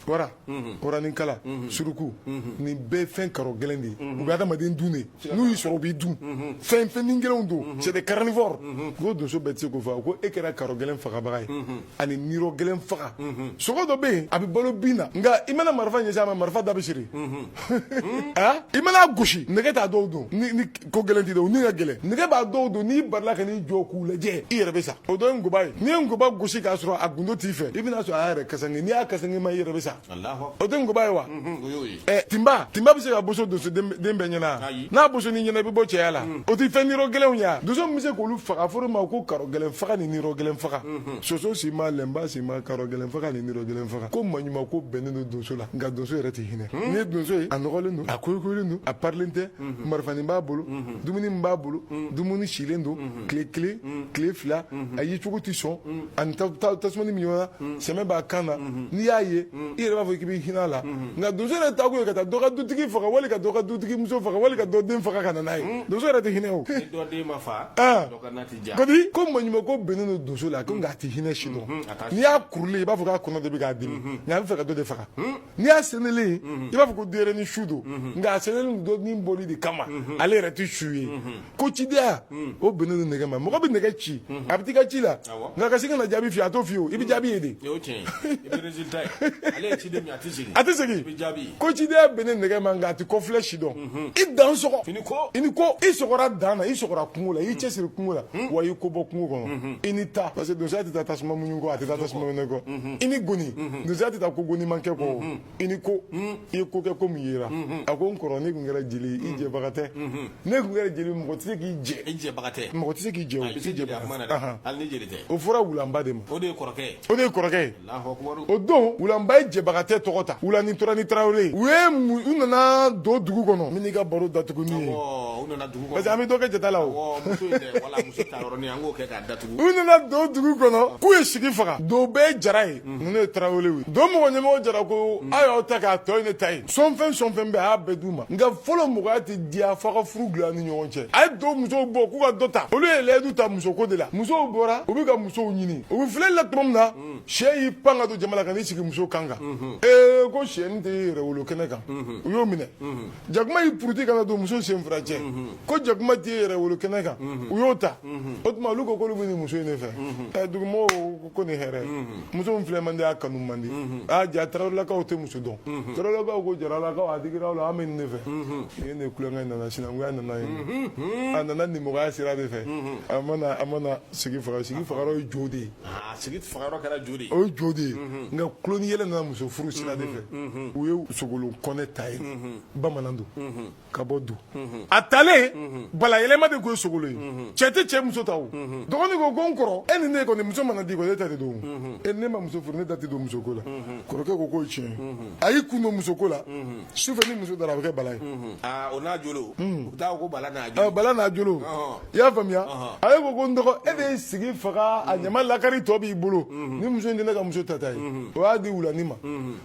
waraninkala suruku nin bɛɛ fɛn karo gɛlɛn de ye u bɛ adamaden dun de n'u y'i sɔrɔ u b'i dun fɛn ni gɛlɛnw don c'est des carnivores ko donso bɛɛ tɛ se k'o faga ko e kɛra karo gɛlɛn fagabaga ye ani nirɔ gɛlɛn faga sogo dɔ bɛ yen a bɛ balo bin na nka i mana marifa ɲɛsin a ma marifa da bɛ siri i man'a gosi nɛgɛ t'a dɔw don ko gɛlɛn tɛ dɛ u ni ka gɛlɛn nɛgɛ b'a dɔw don n'i barila ka n'i jɔ k'u lajɛ i yɛrɛ bɛ sa o dɔ ye nkoba ye n'i ye nkoba gosi k'a sɔrɔ a gundo t'i fɛ i bɛna sɔrɔ a yɛrɛ kasange n'i y'a kasange ma i yɛrɛ bɛ sa o tɛ nkoba ye wa ɛ tinba tinba tɛ se ka boso donso den bɛɛ ɲɛna n'a bosor'i ɲɛna i bɛ bɔ cɛya la o tɛ fɛn nirɔ gɛlɛnw ye donso min bɛ se k'olu faga fɔr'o ma ko karo gɛlɛn faga ni nirɔ gɛlɛn faga soso si ma lɛnba si ma karo gɛlɛn faga ni nirɔ gɛlɛn faga ko maɲuman ko bɛnnen don donso la nka donso yɛrɛ tɛ hinɛ n'i ye donso ye a nɔgɔlen don a koyokoyolen don a parilen tɛ marifanin b'a bolo dumuni min b'a bolo dumuni silen don tile kelen tile fila a ye cogo tɛ sɔn ani tasumani min ɲɔgɔn na sɛmɛ b'a kan na n'i y'a ye i yɛrɛ b'a fɔ k'i bɛ hinɛ a la nka donso yɛrɛ taakun ye ka taa dɔ ka dutigi faga wali ka dɔ ka dutigi muso faga wali ka dɔ den faga ka na n'a ye donso yɛrɛ tɛ hinɛ o kodi ko maɲuman ko bɛnnen don donso la ko nka a tɛ hinɛ si dɔn n'i y'a kurulen i b'a fɔ k'a kɔnɔ de bɛ k'a dimi nka a bɛ fɛ ka dɔ de faga n'i y'a sɛnɛlen i b'a fɔ ko denyɛrɛni su don nka a sɛnɛlen don ni bɔli de kama ale yɛrɛ tɛ su ye ko cidenya o bɛnnen don nɛgɛ ma mɔgɔ bɛ nɛgɛ ci a bɛ t'i ka ci la nka ka segin ka na jaabi f'i ye a t'o f'i ye o i bɛ jaabi ye de a tɛ segin ko cidenya bɛnnen nɛgɛ ma nka a tɛ kɔfilɛ si dɔn i dan sɔgɔ i ni ko i sɔgɔra dan na i sɔgɔra kungo la i y'i cɛ siri kungo la wa i ye ko bɔ kungo kɔnɔ i ni ta parce que donsoya tɛ taa tasuma muɲu kɔ a tɛ taa tasuma mɛnɛ kɔ i ni goni donsoya tɛ taa ko goni man kɛ kɔ i ni ko i ye ko kɛ ko min yera a ko n kɔrɔ ne tun kɛra jeli i jɛbaga tɛ ne tun kɛra jeli mɔgɔ tɛ se k'i jɛ i jɛbaga tɛ mɔgɔ tɛ se k'i jɛ o fɔra wulanba de ma o de ye kɔrɔkɛ ye o de ye kɔrɔkɛ o don wulanba ye jɛbagatɛ tɔgɔ ta wulani tora ni tarawele u ye u nana don dugu kɔnɔ min ka baro datugu ni ye parce que an bɛ dɔ kɛ jata la o u nana don dugu kɔnɔ k'u ye sigi faga do bɛɛ ye jara ye ninnu ye tarawele ye do mɔgɔ ɲamɔgɔ jara ko a y'aw ta k'a tɔ ye ne ta ye sɔnfɛn sɔnfɛn bɛɛ a y'a bɛɛ d'u ma nka fɔlɔ mɔgɔya tɛ diya f'a ka furu dilan ni ɲɔgɔn cɛ a ye do musow bɔ k'u ka dɔ ta olu ye layidu ta musoko de la musow bɔra u bɛ ka musow ɲini u bɛ filɛli la tuma min na sɛ y'i pan ka don jama la ka n'i sigi muso kan kan ee ko sɛni tɛ yɛrɛ wolo kɛnɛ kan u y'o minɛ jakuma y'i puruti ka na don muso sen fila cɛ ko jakuma t'i yɛrɛ wolo kɛnɛ kan u y'o ta o tuma olu ko k'olu bɛ nin muso in de fɛ ɛ dugumɔgɔw ko ko nin hɛrɛ muso min filɛ man di a kanu man di aa ja tarawelelakaw tɛ muso dɔn tarawelelakaw ko jaralakaw a digira aw la an bɛ nin de fɛ nin ye ne tulonkɛ nana sinankunya nana yen a nana nimɔgɔya sira de fɛ a mana a mana Sigi faga sigi faga ye jo de ye sigi kɛra jo o ye jo de ye nka kuin yɛlɛ nana muso furu sira de fɛ u ye sogolon kɔnɛ ta ye bamanan don ka bɔ do a talen balayɛlɛma de tun ye sogolon ye cɛ tɛ cɛ muso ta dɔgɔnin ko ko n kɔrɔ e ni ne kɔni muso mana di e ta de don e ne ma muso furu ne da tɛ don musoko la kɔrɔkɛ ko k'o tiɲɛ a y'i kun don musoko la sufɛ ni muso dara a bɛ kɛ bala ye o n'a jolo bala n'a i y'a faamuya a ye ko ko n dɔgɔ e de ye sigi faga a ɲama lakari tɔ b'i bolo ni muso in tɛ ne ka muso tata ye o y'a di wulani ma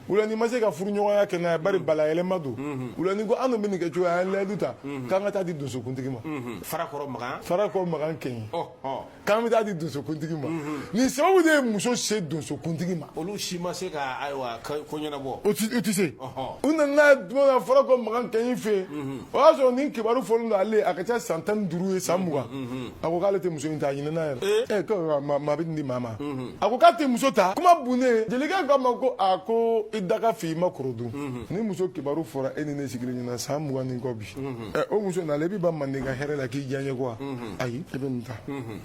wulani ma se ka furu ɲɔgɔnya kɛ n'a ye bari balayɛlɛma don wulani ko an dun bɛ nin kɛ cogo an ye layidu ta k'an ka taa di donsokuntigi ma farakɔrɔ makan farakɔrɔ makan kɛɲi k'an bɛ taa di donsokuntigi ma nin sababu de ye muso se donsokuntigi ma olu si ma se ka ayiwa ko ɲɛnabɔ o tɛ se u nana tuma min farakɔ makan kɛɲɛ fɛ yen o y'a sɔrɔ nin kibaru fɔlen don ale a ka ca san tan duuru ye san mugan a ko k'ale tɛ muso in ta a ɲinɛna yɛrɛ ko maa bɛ nin di maa ma a ko k'a tɛ muso ta kuma bonnen jelikɛ k'a ma ko a ko i da ka fi i ma kɔrɔ dun nin muso kibaru fɔra e ni ne sigilen ɲɛna san mugan ni kɔ bi o muso nalen i bɛ ban manden ka hɛrɛ la k'i diyanye ko wa ayi e bɛ nin ta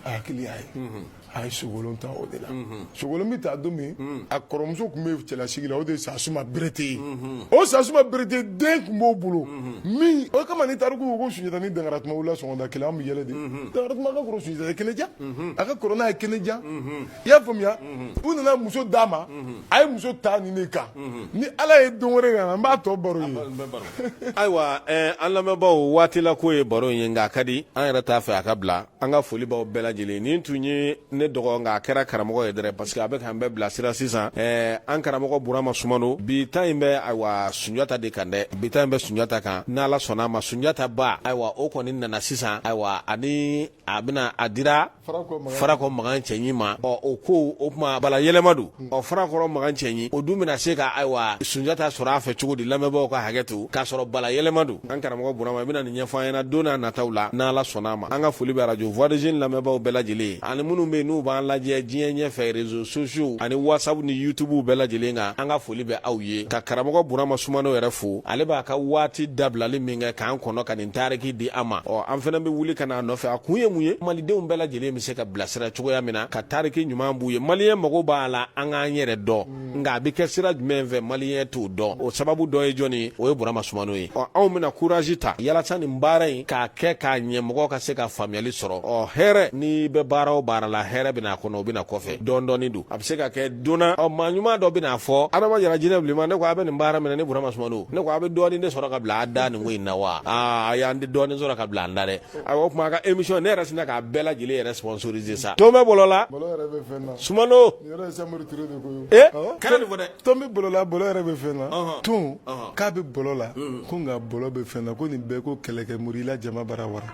a hakili y'a ye a ye sogolon ta o de la sogolon bɛ ta don min a kɔrɔmuso tun bɛ cɛlasigi la o de ye sasuma berete ye o sasuma berete den tun b'o bolo min o kama ni tariku ko ko sunjata ni dankaran tuma wolola sɔgɔmada kelen an bɛ yɛlɛ de dankaran tuma ka kɔrɔ sunjata ye kɛnɛjan a ka kɔrɔ n'a ye kɛnɛjan i y'a faamuya u nana muso d'a ma a ye muso ta nin de kan ni ala ye don wɛrɛ kan an b'a tɔ baro ye ayiwa an lamɛnbaw waatila ko ye baro in ye nka a ka di an yɛrɛ t'a fɛ a ka bila an ka foli b'aw bɛɛ lajɛlen nin tun ye ne dɔgɔ nka a kɛra karamɔgɔ ye dɛrɛ parce que a bɛ k'an bɛɛ bilasira sisan ɛɛ an karamɔgɔ burama sumano bi ta in bɛ ayiwa sunjata de kan dɛ bi ta in bɛ sunjata kan n'ala sɔnna a ma sunjata ba ayiwa o kɔni nana sisan ayiwa ani a bɛna a dira farakɔ makan cɛɲi ma ɔ o ko o tuma bala yɛlɛma don ɔ farakɔrɔ makan cɛɲi o dun bɛna se ka ayiwa sunjata sɔrɔ a fɛ cogo di lamɛnbaw ka hakɛ to k'a sɔrɔ bala yɛlɛma don an karamɔgɔ burama i bɛna nin ɲɛfɔ an ɲɛna don n'a nataw la n' ala sɔnna a ma an ka foli bɛ arajo voix des jeunes lamɛnbaw bɛɛ lajɛlen ye ani minnu bɛ n'u b'an lajɛ diɲɛ ɲɛ fɛ réseaux sociaux ani whatsapp ni yutubuw bɛɛ lajɛlen kan an ka foli bɛ aw ye ka karamɔgɔ burama sumano yɛrɛ fo ale b'a ka waati dabilali min kɛ k'an kɔnɔ ka tariki di an ma ɔ an fana bɛ wuli ka n'a nɔfɛ a kun ye mun ye malidenw bɛɛ lajɛlen bɛ se ka bilasira cogoya min na ka tariki ɲuman b'u ye maliyɛn mago b'a la an k'an yɛrɛ dɔn mm. nka a bɛ kɛ sira jumɛn fɛ maliyɛn t'o dɔn o sababu dɔ ye jɔni ye o ye burama sumano ye ɔ anw bɛna kurazi ta yalasa nin baara in k'a kɛ k'a ɲɛ mɔgɔ ka se ka faamuyali sɔrɔ ɔ hɛrɛ n'i bɛ baara o baara la hɛrɛ bɛna a kɔnɔ o bɛna kɔfɛ dɔɔni dɔɔni don a bɛ se ka kɛ don na ɔ maa ɲuman dɔ bɛna a fɔ adama jara jinɛ bilenman ne ko a bɛ nin baara minɛ ni burama sumano ne ko a bɛ dɔɔnin de sɔrɔ ka bila a da nin ko in na wa aa a y'an de dɔɔnin sɔrɔ ka bila an da dɛ a o tuma a ka émission ne yɛrɛ sinna k'a bɛɛ lajɛlen yɛrɛ sponsoriser sa ton bɛ bɔlɔ la bɔlɔ yɛrɛ bɛ fɛn na sumano nin yɛrɛ ye samori ture de ko ye e kana nin fɔ dɛ ton bɛ bɔlɔ la bɔlɔ yɛrɛ bɛ fɛn na ton k'a bɛ bɔlɔ la ko nka bɔlɔ bɛ fɛn na ko nin bɛɛ ko kɛlɛkɛ murila jama bara wara